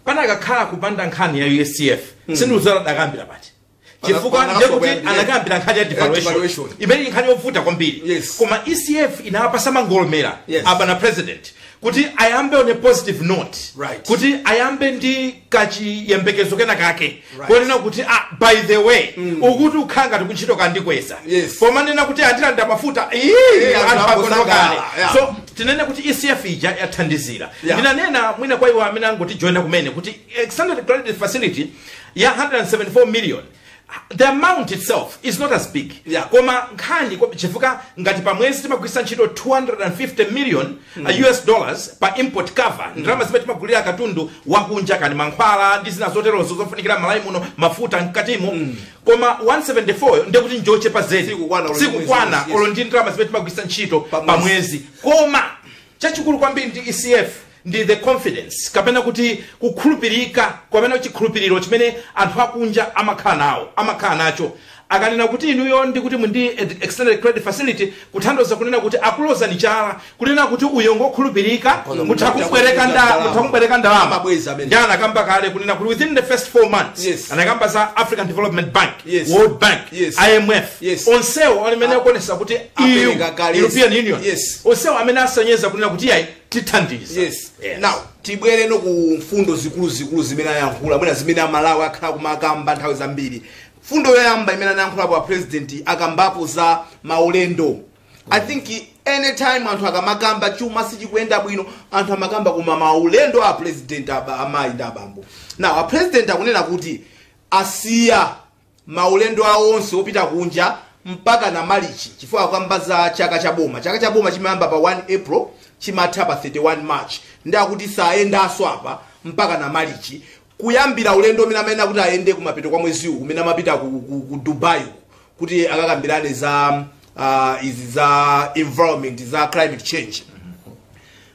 panakakhala kupanda nkhani ya ECF mm. sindikudziwa akadayambira pati Pana- chifukwa pana- ndiye kuti pana- yeah. anakambira nkhani ya Yeah, devaluation devaluation. imene ndi nkhani yovuta kwambiri Yes. koma ECF inawapasa mangolomera Yes. abwana president kuti ayambe on a positive note Right. kuti ayambe ndi kachiyembekezo kena kake Right. konena kuti ah, by the way akuti ukhala ngati kuntchito kwandikweza Yes. pomanena kuti andilanda mafuta ii, Eh, anthu anthu agono akusangalala, kale yeah. so tinene kuti ecf ija yathandizira Yeah. ndinanena mwina kwa iwo amene angotijoyina kumene kuti extended credit facility ya 174 million the amount itself is not as big Yeah. koma nkhani kwa- chifukwa ngati pa mwezi timagwiritsa ntchito 250 million uh, us dollars pa import cover ndalama zimene timagulira katundu wakunja kani mankhwala ndi zina zoterozo zofunikira Malawi muno mafuta mkatimo koma 174 ndiye kuti njochepa zedi Sikukwana, sikukwana yes. olo ndi ndalama zimene timagwiritsa ntchito Pa pa mwezi. mwezi koma Chachikulu kwambiri ndi ECF ndi the confidence kapena kuti kukhulupirika kapena chikhulupiriro chimene anthu akunja amakhala nawo amakhala nacho akanena kuti inuyo ndi kuti muli ndi extended credit facility kutanthauza kunena kuti akulozani chala kunena kuti uyo ngokhulupirika Kono mutha mutha kubwereka kubwereka ndalama ndalama. mutha kubwereka ndalama Amabweza amene. ndi anakamba kale kunena kuti within the first four months Yes. anakamba za african development bank Yes. world bank Yes. imf Yes. onsewo ali mmene akuonesa kuti EU apereka kale european union yes onsewo amene asonyeza kunena kuti ayi tithandiza yes now tibwereno ku mfundo zikuluzikulu zimene ayankhula mwina zimene amalawi akhala kumakamba nthawi zambiri mfundo yoyamba imene anayankhulapo a president akambapo za maulendo i think anytime anthu akamakamba chuma sichikuyenda bwino anthu amakamba koma maulendo a president amayi ndi abambo now a president akunena kuti asiya maulendo awo onse opita kunja mpakana Malichi chifukwa akukamba za chaka cha boma. Chaka cha boma chimayamba pa 1 April chimatha pa 31 March ndi akuti sayendanso apa mpakana Malichi kuyambira ulendo umene amayenera kuti ayende kumapeto kwa mwezi uwu umene amapita ku, ku, ku Dubai uku, kuti akakambirane za uh, izi za environment za climate change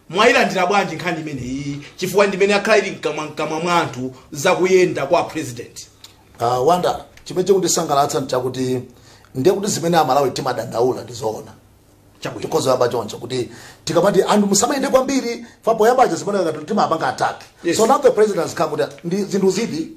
mwayilandira bwanji nkhani imeneyi chifukwa ndimene yakhala ili mkamwa mkamwa mwa anthu zakuyenda kwa president A Wonder, chimene chikundisangalatsa nchakuti ndiye kuti zimene Amalawi timadandaula ndi zoona. Chabwino. Tikhoza kuyamba choncho kuti tikamati anthu musamayende kwambiri fa poyamba paja zimene ngati timapanga attack. Yes. So now the president has come kuti ndi zinthu ziti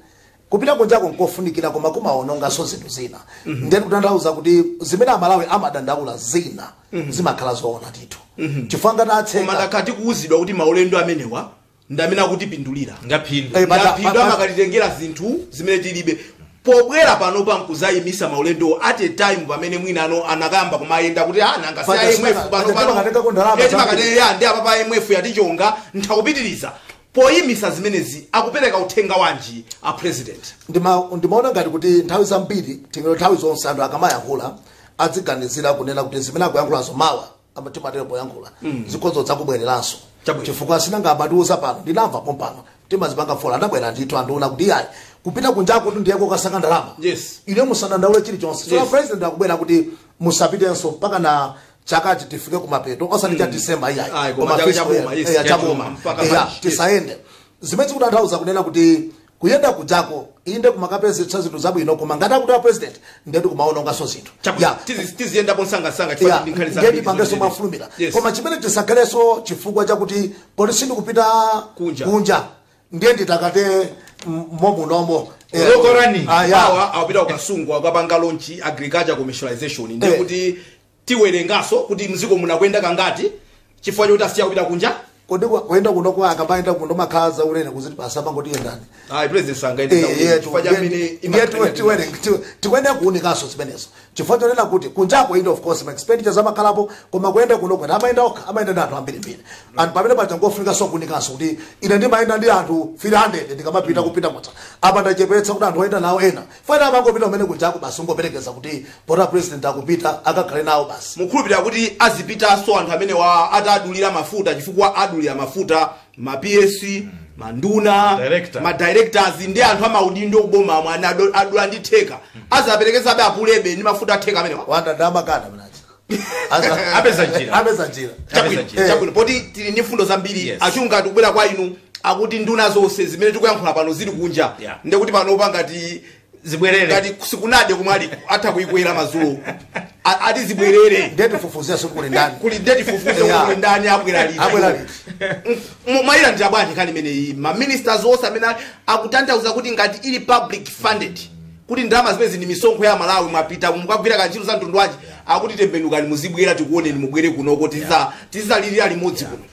kupita kunjako nkofunikira koma kumaononganso zinthu zina. Ndiye kutanthauza kuti zimene Amalawi amadandaula zina zimakhala zoona ndithu. Chifukwa ngati atseka tidakati kuuzidwa kuti maulendo amenewa ndi amene akutipindulira Ngaphindu. Eh, pata- ngaphindu pata- amakatitengera zinthu zimene tilibe pobwera pano pankuzayimisa maulendowo at a time pamene mwina anayamba kumayenda kuti ah nanga si Pata imf saka- pano pata pano timakatengako ndalama Eh, zambiri. timakatenge- ya ndi apa pa imf yatichonga nthakupitiriza poyimisa zimenezi akupereka uthenga wanji a president Ndima- ndimaona ngati kuti nthawi zambiri tingoti nthawi zonse anthu akamayankhula adziganizira kunena kuti zimene akuyankhulazo mawa Apa timatero poyankhula zikhoza zakubwereranso Chabwino. chifukwa sinanga amatiuza pano ndinamva pompano timazipanga follow anabwera ndithu ndi kunena kuti ayi kupita kunjako tu ndiye kokasaka ndalama Yes. inu musadandaule chilichonse so Yes. president akubwera kuti musapitenso mpaka na chakachi tifike kumapeto osati cha December iyayi Ayi, koma chaka cha boma, yes, cha boma, mpaka March, yes. tisayende zimene zikutanthauza kunena kuti Kuyenda kujako inde kumakapezetsa zinthu zabwino koma ngati akuti a president ndetu kumaononganso zinthu Ya, tiziyendapo msangamsanga chifukwa yeah, ndi nkhani ndiye zambiri tipangenso zimene- mwafulumira Yes. koma chimene tisakhalenso chifukwa chakuti poti sindikupita Kunja. kunja ndiye nditakate m- momunomo Eh, lokorani ah, yeah. awa akupita ku Kasungu akapanga launch agriculture commercialization ndiye Eh. kuti Tiwerenganso kuti mziko muno akuyenda kangati chifukwa choti asiya kupita kunja. Kodi kwa- kuyenda kuno kodi akamayenda kuno imakhala za ulere kuti basi amangoti yendani. Ayi president sangayende Eh, zaulere yetu, chifukwa cha ndiye- mmene ndiye imakhalira tiwe- ndi tiwere- basi. tiwe- tikuyenera kuunikanso zimenezo chifukwa chonena kuti kunjako inde of course ma expenditure amakhalapo koma kuyenda kuno kwene amayenda okha amayenda ndi anthu ambirimbiri and pamenepaja ngofunikanso kuunikanso kuti ine ndimayenda ndi anthu 300 ndikamapita kupita motsa apa ndachepetsa kuti anthu oyenda nawo ena Chifukwa ena amangopita kumene kujako basi kungoperekeza kuti poti a president akupita akakhale nawo basi. Mukhulupilira kuti azipitaso anthu amenewa ataadulira mafuta chifukwa adulira mafuta ma PS, ma nduna, Director. ma directors ndi anthu amaudindo kuboma omwe ana ado- adula ndi theka. Azaperekezabe a Pule be ndi mafuta a theka amenewa. Wanda ndamakana minacha. Aza- apeza njira apeza njira Chabwino, Eh, chabwino poti tili ndi mfundo zambiri Yes. achunga tikubwera kwa inu akuti nduna zonse zimene tikuyankhula pano zili kunja Yeah. ndiye kuti panopa ngati zibwerere ngati sikunade komwe ali atha kuyikwera madzulo A- ati zibwerere ndiye tifufuzira sikuli ndani kuli nde tifufuze Yeah. kuti ndani abwera liti Abwera liti. M- mwayilandira bwanji nkhani imeneyi maministers onse amene ali- akutanthauza kuti ngati ili public funded kuti ndalama zimenezi ndi misonkho ya Amalawi mwapita mukagwira kantchito ka mtundu wanji akuti tembenukani muzibwera tikuoneni mubwere kunoko tiza- tizalirira limodzi kuno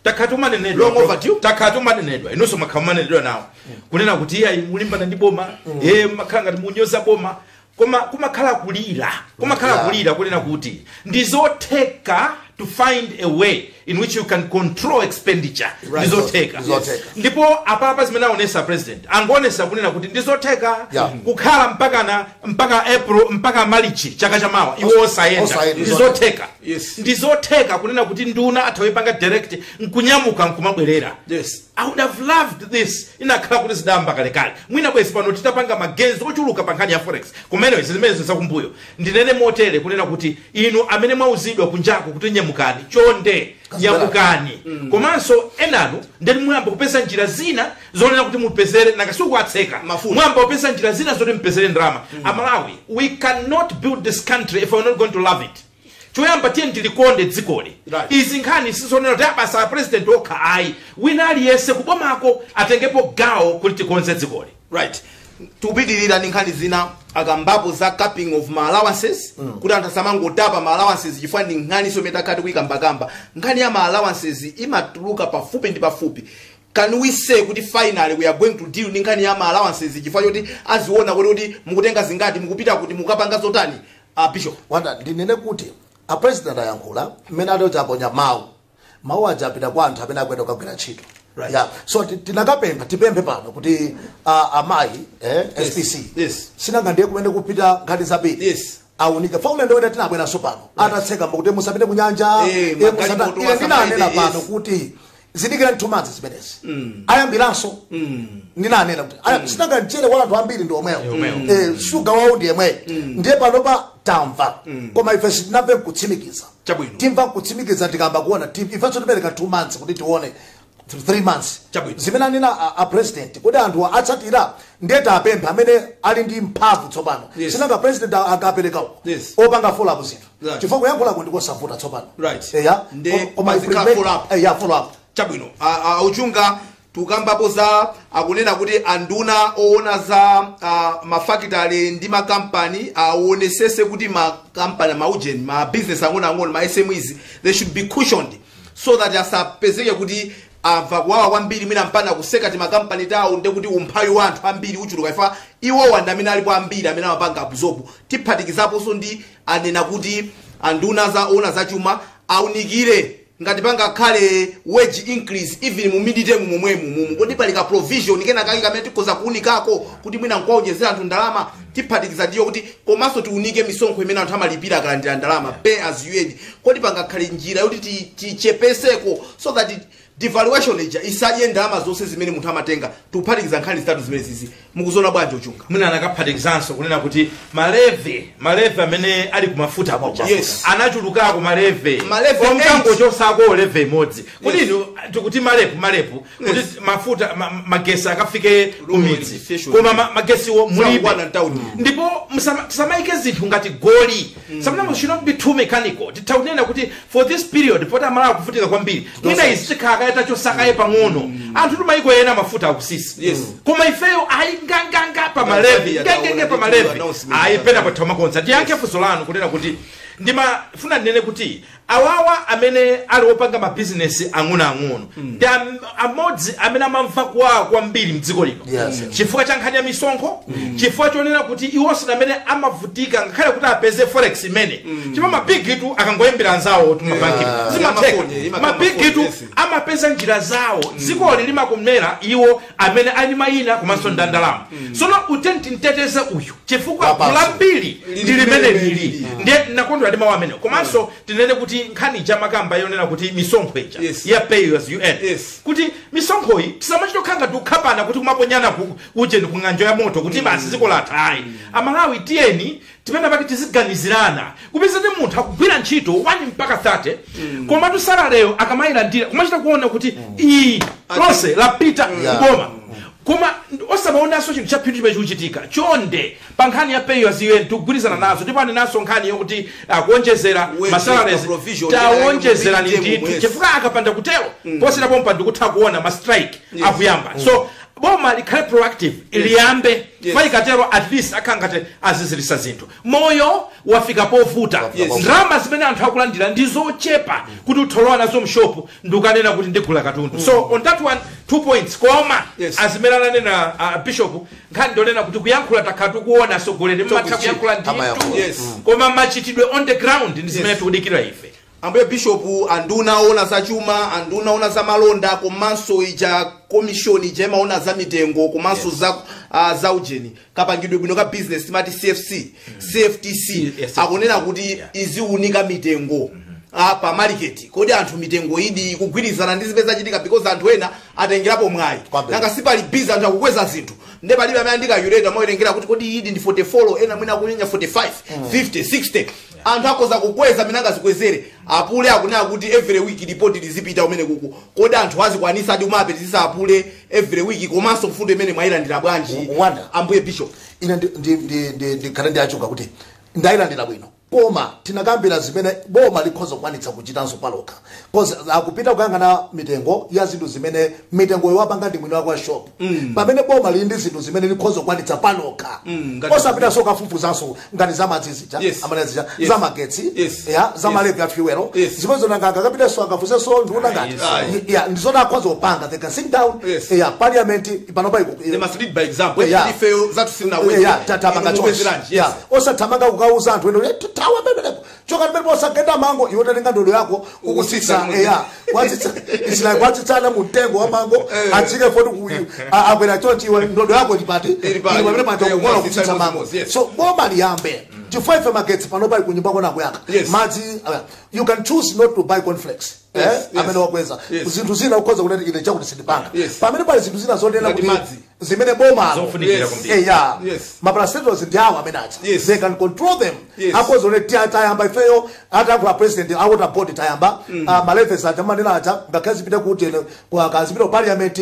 takhala tikumanenedwa Long overdue. takhala tikumanenedwa inunso mwakhala mukumanenedwa nawo kunena kuti iye ayi mukulimbana ndi boma iye mumakhala ngati mukunyoza boma koma kumakhala kulira kumakhala Yeah. kulira kunena kuti ndizotheka to find a way in which you can control expenditure Right. ndizotheka Ndizotheka. ndipo apapa zimene aonesa president angoonesa kunena kuti ndizotheka Yeah. kukhala mpakana mpaka april mpaka march chaka chamawa iwo osayenda osayenda. ndizotheka Yes. ndizotheka kunena kuti nduna atha kuyipanga direct nkunyamuka nkumabwerera Yes. i would have loved this inakakhala kuti zidayamba kalekale mwina bwezi pano titapanga ma gains ochuluka pa nkhani ya forex imeneyo zimenezo zakumbuyo Ndinene motere kunena kuti inu amene mwauzidwa kunjako kuti nyamukani chonde nyamukani komanso enanu nde muyamba kupeza njira zina zonena kuti mupezere nanga si uku atseka Mafuta. muyamba kupeza njira zina zoti mupezere ndalama amalawi we cannot build this country if we're not going to love it choyamba tiyeni tilikonde dzikoli Right. izi nkhani sizonena kuti abasa a president okha ayi wina aliyense kubomako atengepo gawo kuti tikonze dzikoli right tikupitirira ndi nkhani zina akambapo za capping of ma allowances mm. kuti anthu asamangotapa ma allowances chifukwa ndi nkhani zomwe takhala tikuyikambakamba nkhani ya ma allowances imatuluka pafupi ndi pafupi can we say kuti finally we are going to deal ndi nkhani ya ma allowances chifukwa choti aziona kuti kuti mukutenga zingati mukupita kuti mukapanga zotani uh, bishop wanda ndinene kuti apresident ayankhula mmene atochi aponya mawu mawu aja apita kwa anthu amene akuyenda kukagwira ntchito Right. yeah. so ti- tinakapempha tipemphe pano kuti uh, amayi eh, spc Yes. sinanga ndiye kumene kukupita nkhani zambiri Yes. aunike paulendo wina tinabweranso pano atatseka mbo kuti musapite ku nyanja Eh, eh, magari musata- moto ine wa ndinanena Saturday, pano yes. kuti dikirani 2 months zimenezi ayambiranso ndinanena kuti aya- sinanga mchere wa anthu ambiri ndi omwewo Eh, shuga wawo ndi yemweyo ndiye panopa tamva koma ife sitinamve nkutsimikiza Chabwino. timva kutsimikiza tikayamba kuona tim- ifenso tipereka 2 months kuti tione 3 months Chabwino. zimene anena a, a president kodi anthu atsatira ndiye tapempha amene ali ndi mphamvu tsopano Yes. sinanga president a- akapereka uko Yes. opanga follow up zinthu Right. chifukwa kuyankhulako ndikosavuta tsopano Right. eya Nde Ko- koma muzikhala ife- follow up. eya follow up chabwino a- a- auchunga tukambapo za akunena kuti anduna owona za uh, mafakitale ndi makampani awonesese uh, kuti makampani maujeni ma business ang'onoang'ono ma smes they should be cushioned so that asapezeke kuti amva kuwawa kwambiri mwina mpaka kutseka timakampani tawo nde kuti umphawi wa anthu ambiri uchuluka chifukwa iwowa ndi amene alipo ambiri amene amapanga absorb tiphatikizaponso ndi anena kuti anduna za owona za chuma aunikire ngati pangakhale wage increase even mu midterm momwemu mumu kodi pali ka provision kena kake kamene tikhoza kuunikako kuti mwina nkuwaonjezera anthu ndalama tiphatikiza ndiyo kuti komanso tiunike misonkho imene anthu amalipira akalandira ndalama pay as you earn kodi pangakhale njira yoti ti- tichepeseko so that devaluation ija isadye ndalama zonse zimene munthu amatenga tikuphatikiza nkhani zitatu zimenezizi mukuziona bwanji ochunga mwina anakaphatikizanso kunena kuti malevy malevy amene ali kumafuta kuja Yes. anachulukako malevy Malevy omkangochosako levy imodzi kuti Yes. inu tikuti malepu malepu kuti Yes. mafuta ma- magesi akafike kumidzi Station. koma ma- magesiwo mulibe Sakukwana town. ndipo musama- tisamayike zinthu ngati goli sometimes should not be too mechanical titha kunena kuti for this period poti amalawi akuvutika kwambiri mwina izi tikhale kaye tachosa kaye pang'ono anthu kumayiko ena mafuta akusisa Yes. koma ifeyo ayi nganganga pa malevy Tanzania ngangenge taona pa malevy ndithu announcement ayi za- pena pothamakonza ndiyankhe funso lanu kunena kuti ndimafuna ndinene kuti awawa amene ali opanga mabizinesi ang'onoang'ono ndi am- amodzi amene amamva kuwawa kwambiri mdziko lino Yes. chifukwa cha nkhani ya misonkho chifukwa chonena kuti iwonso ndi amene amavutika ngakhale kuti apeze forex imene chifukwa mabigitu akangoyimbira anzawo kumabanki zimatheka Amakonye, imakhala mabigitu amakonye, yes. amapeza njira zawo dzikoli limakomera iwo amene ali ndi mayina komanso ndandalama sono tinene kuti timteteze uyu chifukwa Wapanso. gulu lambiri Lili ndi limene limene lili lili. ndiye nakondwera ndi mawu amene komanso tinene kuti nkhani ija mmakamba yonena kuti misonkho ija Yes. ya pay as you earn Yes. kuti misonkhoyi tisamachita kukhala ngati kukhapana kuti kumaponyana ku- uje ndi kung'anjo ya moto kuti basi ziko latha ayi amalawi tiyeni penapake tiziganizirana kupeza kuti munthu akugwira ntchito 1 mpaka 30 komatu salary yo akamayilandira kumachita kuona kuti iyi lonse lapita Yeah. kuboma koma osamaonanso chinthu cha phindu chimene chikuchitika chonde pa nkhani ya pay as you earn tikugwirizana nazo ndipo anenanso nkhani yokuti akuonjezera Wage, masalares the provision, tawonjezerani yeah, ndithu yes. chifukwa akapanda kutero poschedwa pompa ndikutha kuona ma strike akuyamba so boma likhale proactive liyambe Yes. Mwina katero at least akhala ngati azizirisa zinthu moyo wafika povuta Wafika povuta. ndalama zimene anthu akulandira ndi zochepa kuti utha kulowa nazo mshopu ndikunena kuti ndigula katundu so on that one two points koma Yes. zimene ananena uh, bishop nkhani ndonena kuti kuyankhula takhala tikuona asogoleri amatha Talk is kuyankhula cheap. Amayankhula. ndithu Yes. koma machitidwe on the ground ndi zimene Yes. tikudikira ife Ambuye Bishopu, anduna owona za chuma, anduna owona za malonda komanso ija komishoni ija imaona za mitengo komanso Yes. za ah, za ujeni kapangidwe bwino ka business timati CFTC Yes. akunena kuti Yeah. iziunika mitengo ah, pa market kodi anthu mitengo ilidi kugwirizana ndi zimene zachitika because anthu ena atengerapo mwayi Kwambiri. nanga sipali biza anthu akukweza zinthu nde palibe amene ali ndi calculator amawerengera kuti kodi ilidi ndi 44 ena mwina akunyenya 45 50 60 anthu akhoza kukweza mmene angazikwezere apule akunena kuti every week report lizipita kumene kuku kodi anthu azikwanisadi kumapitisa apule every week komanso mfundo imene mwayilandira bwanji Wa- Wanda. ambuye bishop ine ndi- ndi- ndi- ndi- ndikhale ndayankhula kuti ndayilandira bwino koma tinakambira zimene boma likhoza kukwanitsa kuchitanso palokha Cause akupita kukayang'ana mitengo ya zinthu zimene mitengoyo wapanga ndi mwini wake wa shop mm. pamene boma lili ndi zinthu zimene likhoza kukwanitsa palokha mm, osapitaso kukafufuzanso ngati za madzi zija yes. amene zija yes. za magetsi yes. ya za yes. ma levy a fuelo yes. zimenezo nanga akapitaso akafufuzenso ndiona ngati yes. ya ndizona akhoza kupanga they can sit down yes. ya parliament panopa iko they must lead by example yeah. ifeyo sitinakweze yeah, tatapanga choice yeah. osathamanga kukauza anthu eno tawa bebe choka ndipo osagenda mango iwe utatenga ndodo yako kukutsitsa eya kwatsitsa it's like kwatsitsana mu mtengo wa mango Eh. atsike foti ku a- akwera chonchi iwe ndodo yako ndipati Ili pati. pamene paja Eh, kukola kwatsitsa kutsitsa mango mango, yes. so boma liyambe chifukwa ife magetsi panopa kunyumba kona kuyaka Yes. madzi uh, you can choose not to buy cornflakes Eh, Yes, yes. amene wakweza Yes. zinthu zina ukhoza kunena ine chakuti sindipanga Yes. pamene pali zinthu zina zonena Ngati kuti madzi. zimene bomalo Zofunikira Yes. kwambiri. Eh, yeah. Yes. ma parastatals ndi awo amene aja Yes. they can control them Yes. akhoza kunena tiyeni tayamba ifeyo ataku a president awota board tayamba ah, ma levies aja mumanena aja ngakhale zipite kuti ene- kwa kazipita ku parliament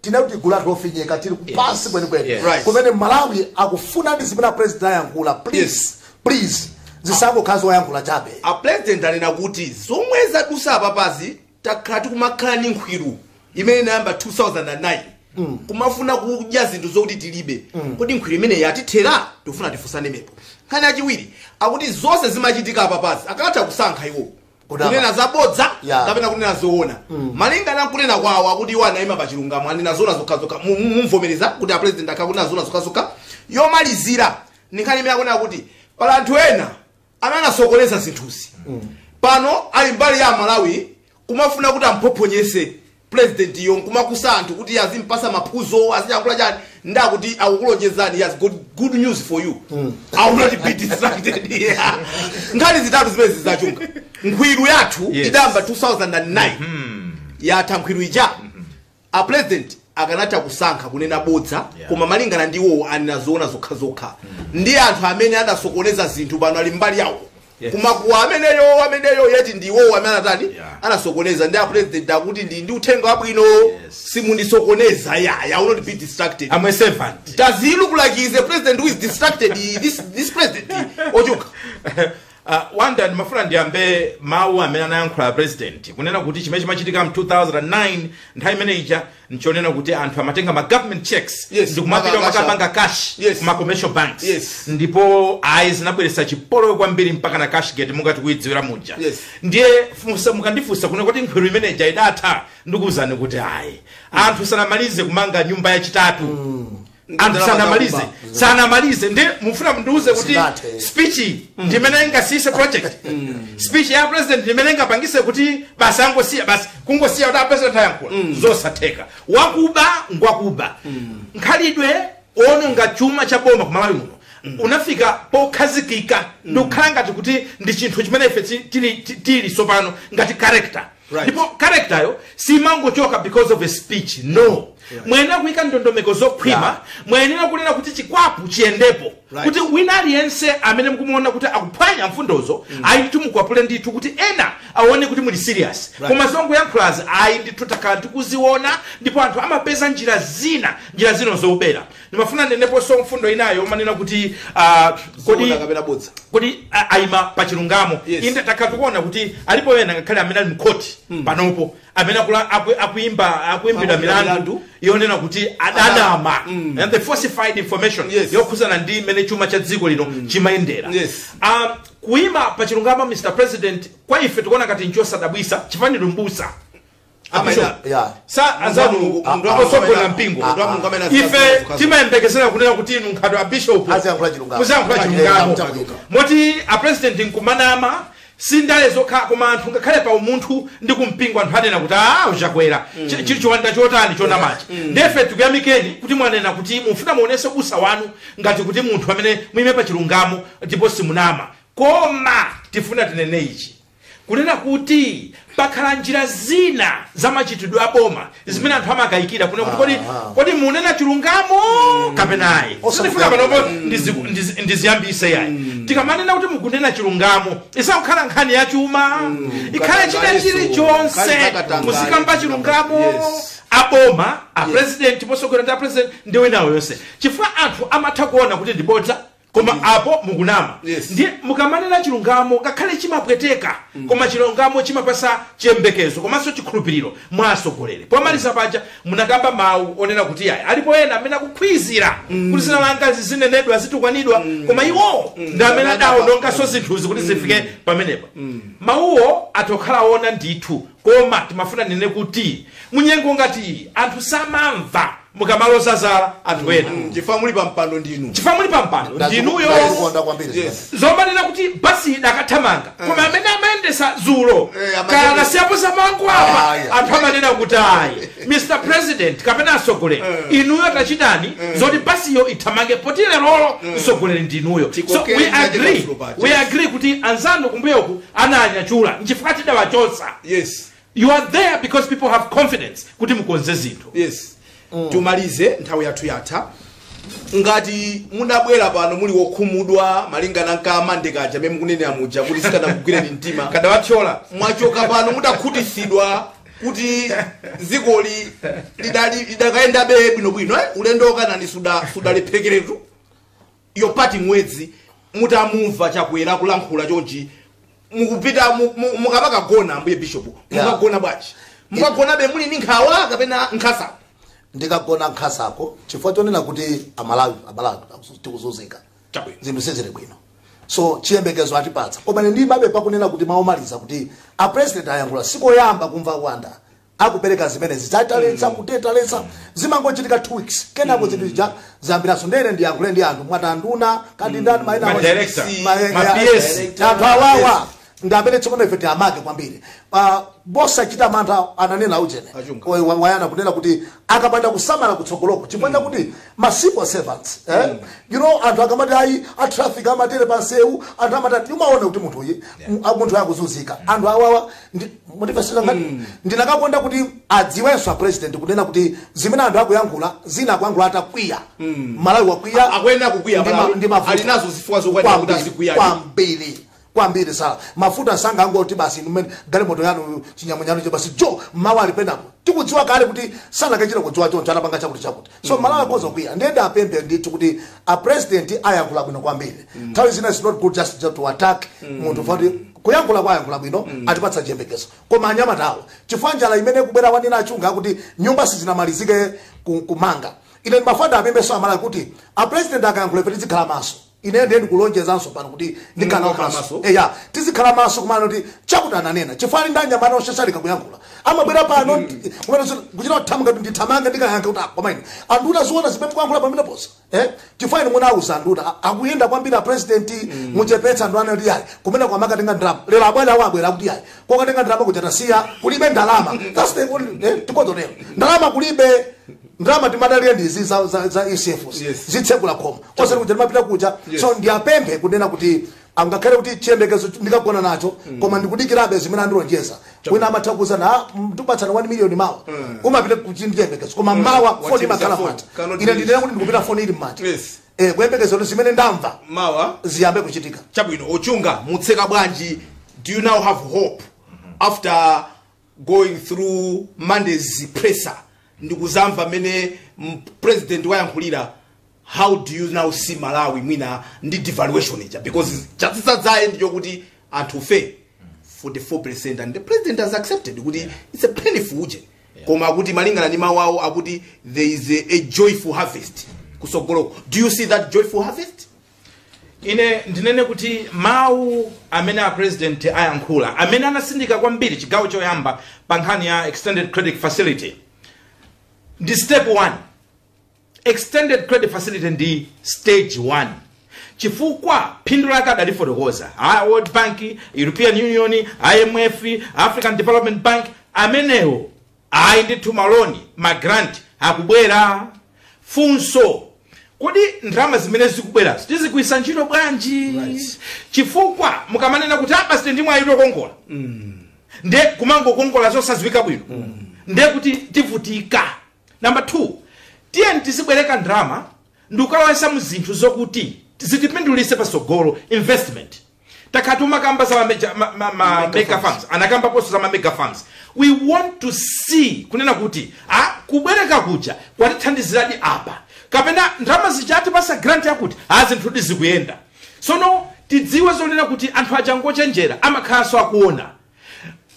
tinene kuti gulu lathu lofinyidwa tili pansi kwenikweni Yes. Right. kumene malawi akufuna ndi zimene apresident ayankhula please please zisangokhala zoyankhula chabe a president anena kuti zomwe zadusa apapazi takhala tikumakhala ni nkhwiru imene inayamba 2009 kumafuna kudya zinthu zokuti tilibe kodi nkhwiru imeneyi yatithera tikufuna tifunsane pamenepo nkhani yachiwiri akuti zonse zimachitika apapazi akanatha kusankha iwo Kunama. kunena zabodza Ya. kapena kunena zoona malinga na kunena kwawo akuti iwo anayima pa chilungamo anena zoona zokhazokha Mu- mu- mumvomereza kuti a president akhala akunena zoona zokhazokha yomalizira ni nkhani imene akunena kuti pali anthu ena amene anasokoneza zinthuzi pano ali mbali ya aMalawi kumafuna kuti amphophonyese president yo nkumakusa anthu kuti azimpasa maphunziro aziyankhula chani nde akuti akukulonjezani he has good, good news for you mm. i will not be distracted yeah. nkhani zitatu zimene zija chunga nkhwiru yathu Yes. idayamba 2009 yatha nkhwiru ija a president akanatha kusankha kunena bodza Yeah. koma malingana ndi iwowo anena zoona zokhazokha ndi anthu amene adasokoneza zinthu pano ali mbali yawo Yes. kumakuwa ameneyo ameneyo yeti ndi iwowo amene anatani Yeah. anasokoneza ndiye apresident akuti ndi ndi uthenga wabwino simundisokoneza I will not be distracted I'm a servant. does he look like he is a president who is distracted this, this president ochoka Uh, Wanda ndimafuna ndiyambe mawu amene anayankhula a president kunena kuti chimene chimachitika mu 2009 nthawi imene ija nchonena kuti anthu amatenga ma government checks Yes, ndikumapita maka- kumakapanga cash Yes. kuma commercial banks Yes. ndipo ayi zinabweretsa chipolowe kwambiri mpaka na cashgate monga tikuyidziwira muja Yes. ndiye funso mukandifunsa kunena kuti khwiru imeneja idatha ndikuwuzani kuti ayi anthu sanamalize kumanga nyumba yachitatu Ndi anthu ndalama sanamalize zakuba. sanamalize ndi mufuna mundiuze kuti Zingathe. speech iyi ndimene ingasiyise project speech ya president ndimene ingapangise kuti basi angosiya basi kungosiya kuti apresident ayankhula zosatheka wakuba ngwakuba mkhalidwe ononga chuma cha boma ku Malawi muno unafika pokhazikika ndikukhala ngati kuti ndi chinthu chimene ife ti- tili ti- tili sopano ngati character Right. ndipo character yo simangochoka because of a speech no mwayenera kuyika ndondomeko zokhwima Yeah. mwayenera kunena kuti chikwapu chiyendepo Right. kuti wina aliyense amene mukumuona kuti akuphwanya mfundozo ayi ndithu mukwapule ndithu kuti ena aone kuti muli serious Right. koma zongoyankhulazi ayi ndithu takhala tikuziona ndipo anthu amapeza njira zina njira zina zobera ndimafuna ndinenepo nso mfundo inayo amanena kuti ah, kodi Zoona kapena bodza kodi a- aima pa chilungamo Yes. inde takhala tikuona kuti alipo ena ngakhale amene ali mkhoti panopo amene akula- aku- akuimba akuimbidwa Akuimbidwa milandu milandu. yonena kuti adanama Mm. and the falsified information Yes. yokhuzana ndi mmene chuma cha dziko lino chimayendera Yes. um, kuima pa chilungamo Mr President kwa ife tikuona ngati nchosadabwisa chifukwa ndinu mbusa Amaina. Yeah. sa anzanu Mulungu, a- munthu a- atsogoleri a- mpingo a- munthu wa mulungu amene ife azikazikazikazika. timayembekezera kunena kuti inu monga a bishop Aziyankhula chilungamo. muziyankhula chilungamo Aziyankhula chilungamo. moti a president nkumanama si ndale zokha koma anthu ngakhale pa umunthu ndi kumpingo anthu anena kuti a Chakwera Chi- chili chiwanda chotani chonamachi nde ife tikuyamikeni kuti mwanena kuti mufuna muonetse ubusa wanu ngati kuti munthu amene muyime pa chilungamo ndipo simunama koma tifuna tinene ichi kunena kuti pakhala njira zina za machitidwe a boma zimene anthu amakayikira kunena kuti kodi Aha. kodi munena chilungamo kapena ayi Osakukayikira. sindifuna panopo ndizi- ndizi- ndiziyambise yayi tikamanena kuti mukunena chilungamo isangokhala nkhani ya chuma ikhale china Katangale chilichonse so, kali katangale. muzikamba chilungamo Yes. aboma a president potsogolera ndi a president ndi enawo onse chifukwa anthu amatha kuona kuti ndi bodza koma apo mukunama Yes. ndiye mukamanena chilungamo ngakhale chimapweteka koma chilungamo chimapasa chiyembekezo komanso chikhulupiriro mwa atsogoleri pomaliza paja munakamba mawu onena kuti ayi alipo ena amene akukhwizira kuti dzina langa lizinenedwa zitukwanidwa koma iwowo ndi amene adawononganso zinthuzi kuti zifike pamenepa mawuwo athakukhala oona ndithu Koma timafuna tinene kuti munyengo ngati iyi anthu samamva mukamaloza zala anthu ena mm. chifukwa muli pampando ndinu chifukwa muli pampando ndinuyo zomanena kuti basi idakathamangabe eh. koma amene amayendetsa dzulo eh, kaya anasiyapo zamangu apa ah, anthu amanena kuti ayi mr president kapena atsogoleri eh. inuyo tachitani zoti basiyo ithamange poti lerolo mtsogoleri ndinuyo so we agree we agree kuti anzanu kumbuyoku ananyachula nchifukwa tidawachotsa yes you are there because people have confidence kuti mukonze zinthu yes timalize nthawi yathu yatha ngati mudabwera pano muli wokhumudwa malingana nkamandime kaja amene mukunenera muja kuti sikanakugwireni mtima kadawathyola mwachoka pano mudakhutitsidwa kuti dzikoli lidali- lidakayendabe bwinobwino eh? ulendo waku Kenani suda- sudalephekeretu Yopita mwezi mutamumva chakwera akulankhula chonchi mukupita mu- mu- mukamakagona ambuye bishop Yeah. mukagona bwanji mukagonabe muli ndi nkhawa kapena nkhasako ndikagona nkhasako chifukwa chonena kuti amalawi amalawi akuzu- tikuzunzika Chabwino. zinthu sizili bwino so chiyembekezo atipatsa koma ine ndimabe pakunena kuti mawu omaliza kuti a president ayankhula sikoyamba kumva nduna akupereka zimenezi zoti taletsa kuti taletsa zimangochitika two weeks kenako zinthu zija zayambiranso ndiye ine ndiyankhule ndi anthu mwati nduna kaya ndi ndani maina Ma onse. director, Ma- ma ya- PS. director, anthu awawa ndi amene tsopano ife tiwamake kwambiri Pa- posachita mantha ananena ujene Achunga. Wa- wa- wayana kunena kuti akapanda kusamala kutsogoloko chifukwa chakuti ma civil servants eh? you know anthu akamati ayi a traffic amatere pansewu anthu amatati umaona kuti munthu uyi mu- a- munthu akuzunzika anthu awawa Ndi- mundipepesera ngati ndikanakonda kuti adziwenso a president kunena kuti zimene anthu akuyankhula zina akuyankhula atakwiya mmalawi wakwiya akuyenera kukwiya Ndi ma- Malawi. ndi mavuto. ali nazo zifukwa zokwanira kuti Kwambiri, azikwiya kwambiri kwambiri zala mafuta sanga angoti basi nimene galimoto yanu chinyamunyano che basi jo mawa alipendapo tikudziwa kale kuti sanakachite kudziwa choncho anapanga chakuti chakuti so amalawi akhoza kwiya ndiye ndiwapemphe ndithu kuti a president ayankhula bwino kwambiri nthawi zina is not good just, just to attack munthu koma Kuyankhula kwa ayankhula bwino atipatsa chiyembekezo koma anyamata awa chifukwa njala imene ikubwera wanena achunga akuti nyumba sizinamalizike ku- kumanga ine ndimafuna ndiwapemphenso amalawi kuti a president akayankhula ife tizikhala maso ine ndiye ndikulonjezanso pano kuti ndikhala Mukakhala maso maso. eya tizikhala maso kuona kuti chakuti ananena chifukwa ali ndi anyamata oshashalika kuyankhula amabwera pano kumene kuchita kuthamuka kuti ndithamange ndikayankha kuti koma ine anduna taziona zimene tikuyankhula pameneposa Eh? chifukwa inu munauza nduna a- akuyenda kwambiri apresident muchepetse nduna anati ayi kumene tukakatenga ndalama lero abwera awo abwera akuti ayi kokatenga ndalama kuja tasiya kulibe ndalama That's the only- eh, tikuona lero ndalama kulibe ndalama timadalire ndizi za, za, za ECFs Yes. zitsekula khomo osati kuti timapita kuja so ndiyapemphe kunena kuti Ah, ngakhale kuti chiyembekezo ch- ndikagona nacho koma ndikudikirabe zimene andilonjeza wina amatha kuuzana "Ah, mm, tipatsana 1 million mawa umapita uli ndi chiyembekezo koma mawa Wacheza foni imakhala phone. manja Cannot ine reach. ndinena kuti ndikupita foni ili mmanja Yes. Eh, kuyembekeza kuti zimene ndamva mawa ziyambe kuchitika chabwino ochunga mutseka bwanji do you now have hope after going through monday's presser ndikuzamva mene m- president wayankhulira how do you now see malawi mwina ndi devaluation ija because chatsitsa dzaye ndicho kuti anthufe 44% and the president has accepted kuti yeah. it's a painful uje yeah. koma akuti malingana ndi mawu awo akuti there is a, a joyful harvest kusogoloko do you see that joyful harvest ine ndinene kuti mawu amene a president ayankhula amene anatsindika kwambiri chigawo choyamba pa nkhani ya extended credit facility ndi step 1 extended credit facility ndi stage 1 chifukwa phindu lake adalifotokoza a world bank european union imf african development bank amenewo Ayi ndithu ma loan, ma grant akubwera. Funso kodi ndalama zimene zikubwerazi tizigwiritsa ntchito bwanji? Right. Chifukwa mukamanena kuti ah basi ndi mwayi tikongola. Nde kumangokongola zosadziwika bwino. Nde kuti tivutika. Number 2, tiyeni tizibwereka ndalama ndikukawaika mu zinthu zokuti zitipindulitse patsogolo investment. takhala timakamba za mameja- ma- ma- ma- Mega mega farms anakambaponso za mamega farms we want to see kunena kuti a kubwereka kuja kwatithandiziradi apa kapena ndalama zija atipasa grant yakuti a zinthudi zikuyenda sono tidziwe zonena kuti anthu aja ngochenjera amakhalanso akuona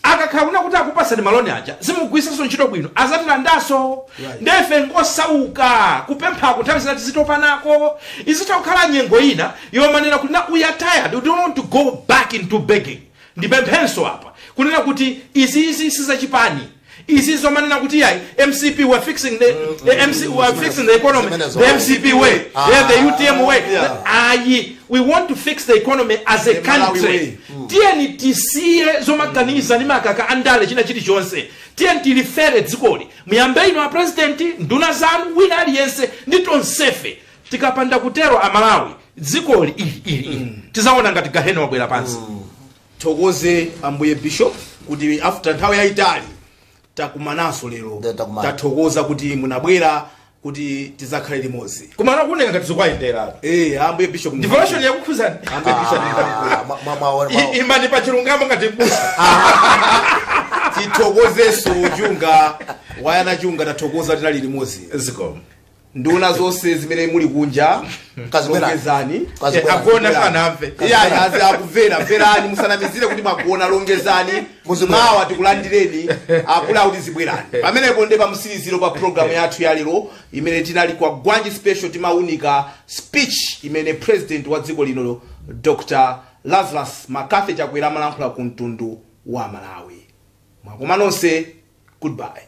akakhala kuona kuti akupasani maloni aja simugwiritsaso ntchito bwino azatilandaso Right. ndefe ngosauka kupemphako nthawi zina tizitopanako izitha kukhala nyengo ina yomanena kuti na we are tired we don't want to go back into begging ndipemphenso apa kunena kuti iziizi sizachipani Izi zomanena kuti yayi MCP we are fixing the, the MC we are fixing the economy Zimenezo. the MCP way Ah. yeah, the UTM way Yeah. ayi we want to fix the economy as a The Malawi country way. tiyeni tisiye zomaganiza ndi makaka andale china chilichonse tiyeni tilifere dzikoli muyambe inu a president nduna zanu wina aliyense ndi tonsefe tikapanda kutero amalawi dzikoli ili ili ili tizaona ngati gahena wabwera pansi Tithokoze Ambuye Bishop kuti after nthawi yayitali takumananso lero Nde takumana. tathokoza kuti munabwera kuti tizakhale limodzi koma akumaoneka ngati zikuwayenderatu eh Ambuye Bishop devotion yakukhuzani Ambuye Bishop Ah, mwa- mwa- mwa- mwa- imani pa chilungamo ngati mbusa tithokozenso chunga wayana chunga tathokoza tinali limodzi zikomo nduna zonse zimene muli kunja Kazibwera. longezani Kazibwera. Eh, agona sanamve Iye Ayi azikumverani, mverani musanamizire kuti mwagona longezani Muzibwera. mawa tikulandireni akuluakulu, zibwerani pamenepo nde pamtsiliziro pa programu yathu ya lero imene tinali Kwagwanji special timaunika speech imene president wa dziko lino dr lazarus McCarthy chakwera amalankhula ku mtundu wa malawi mwaswera nonse goodbye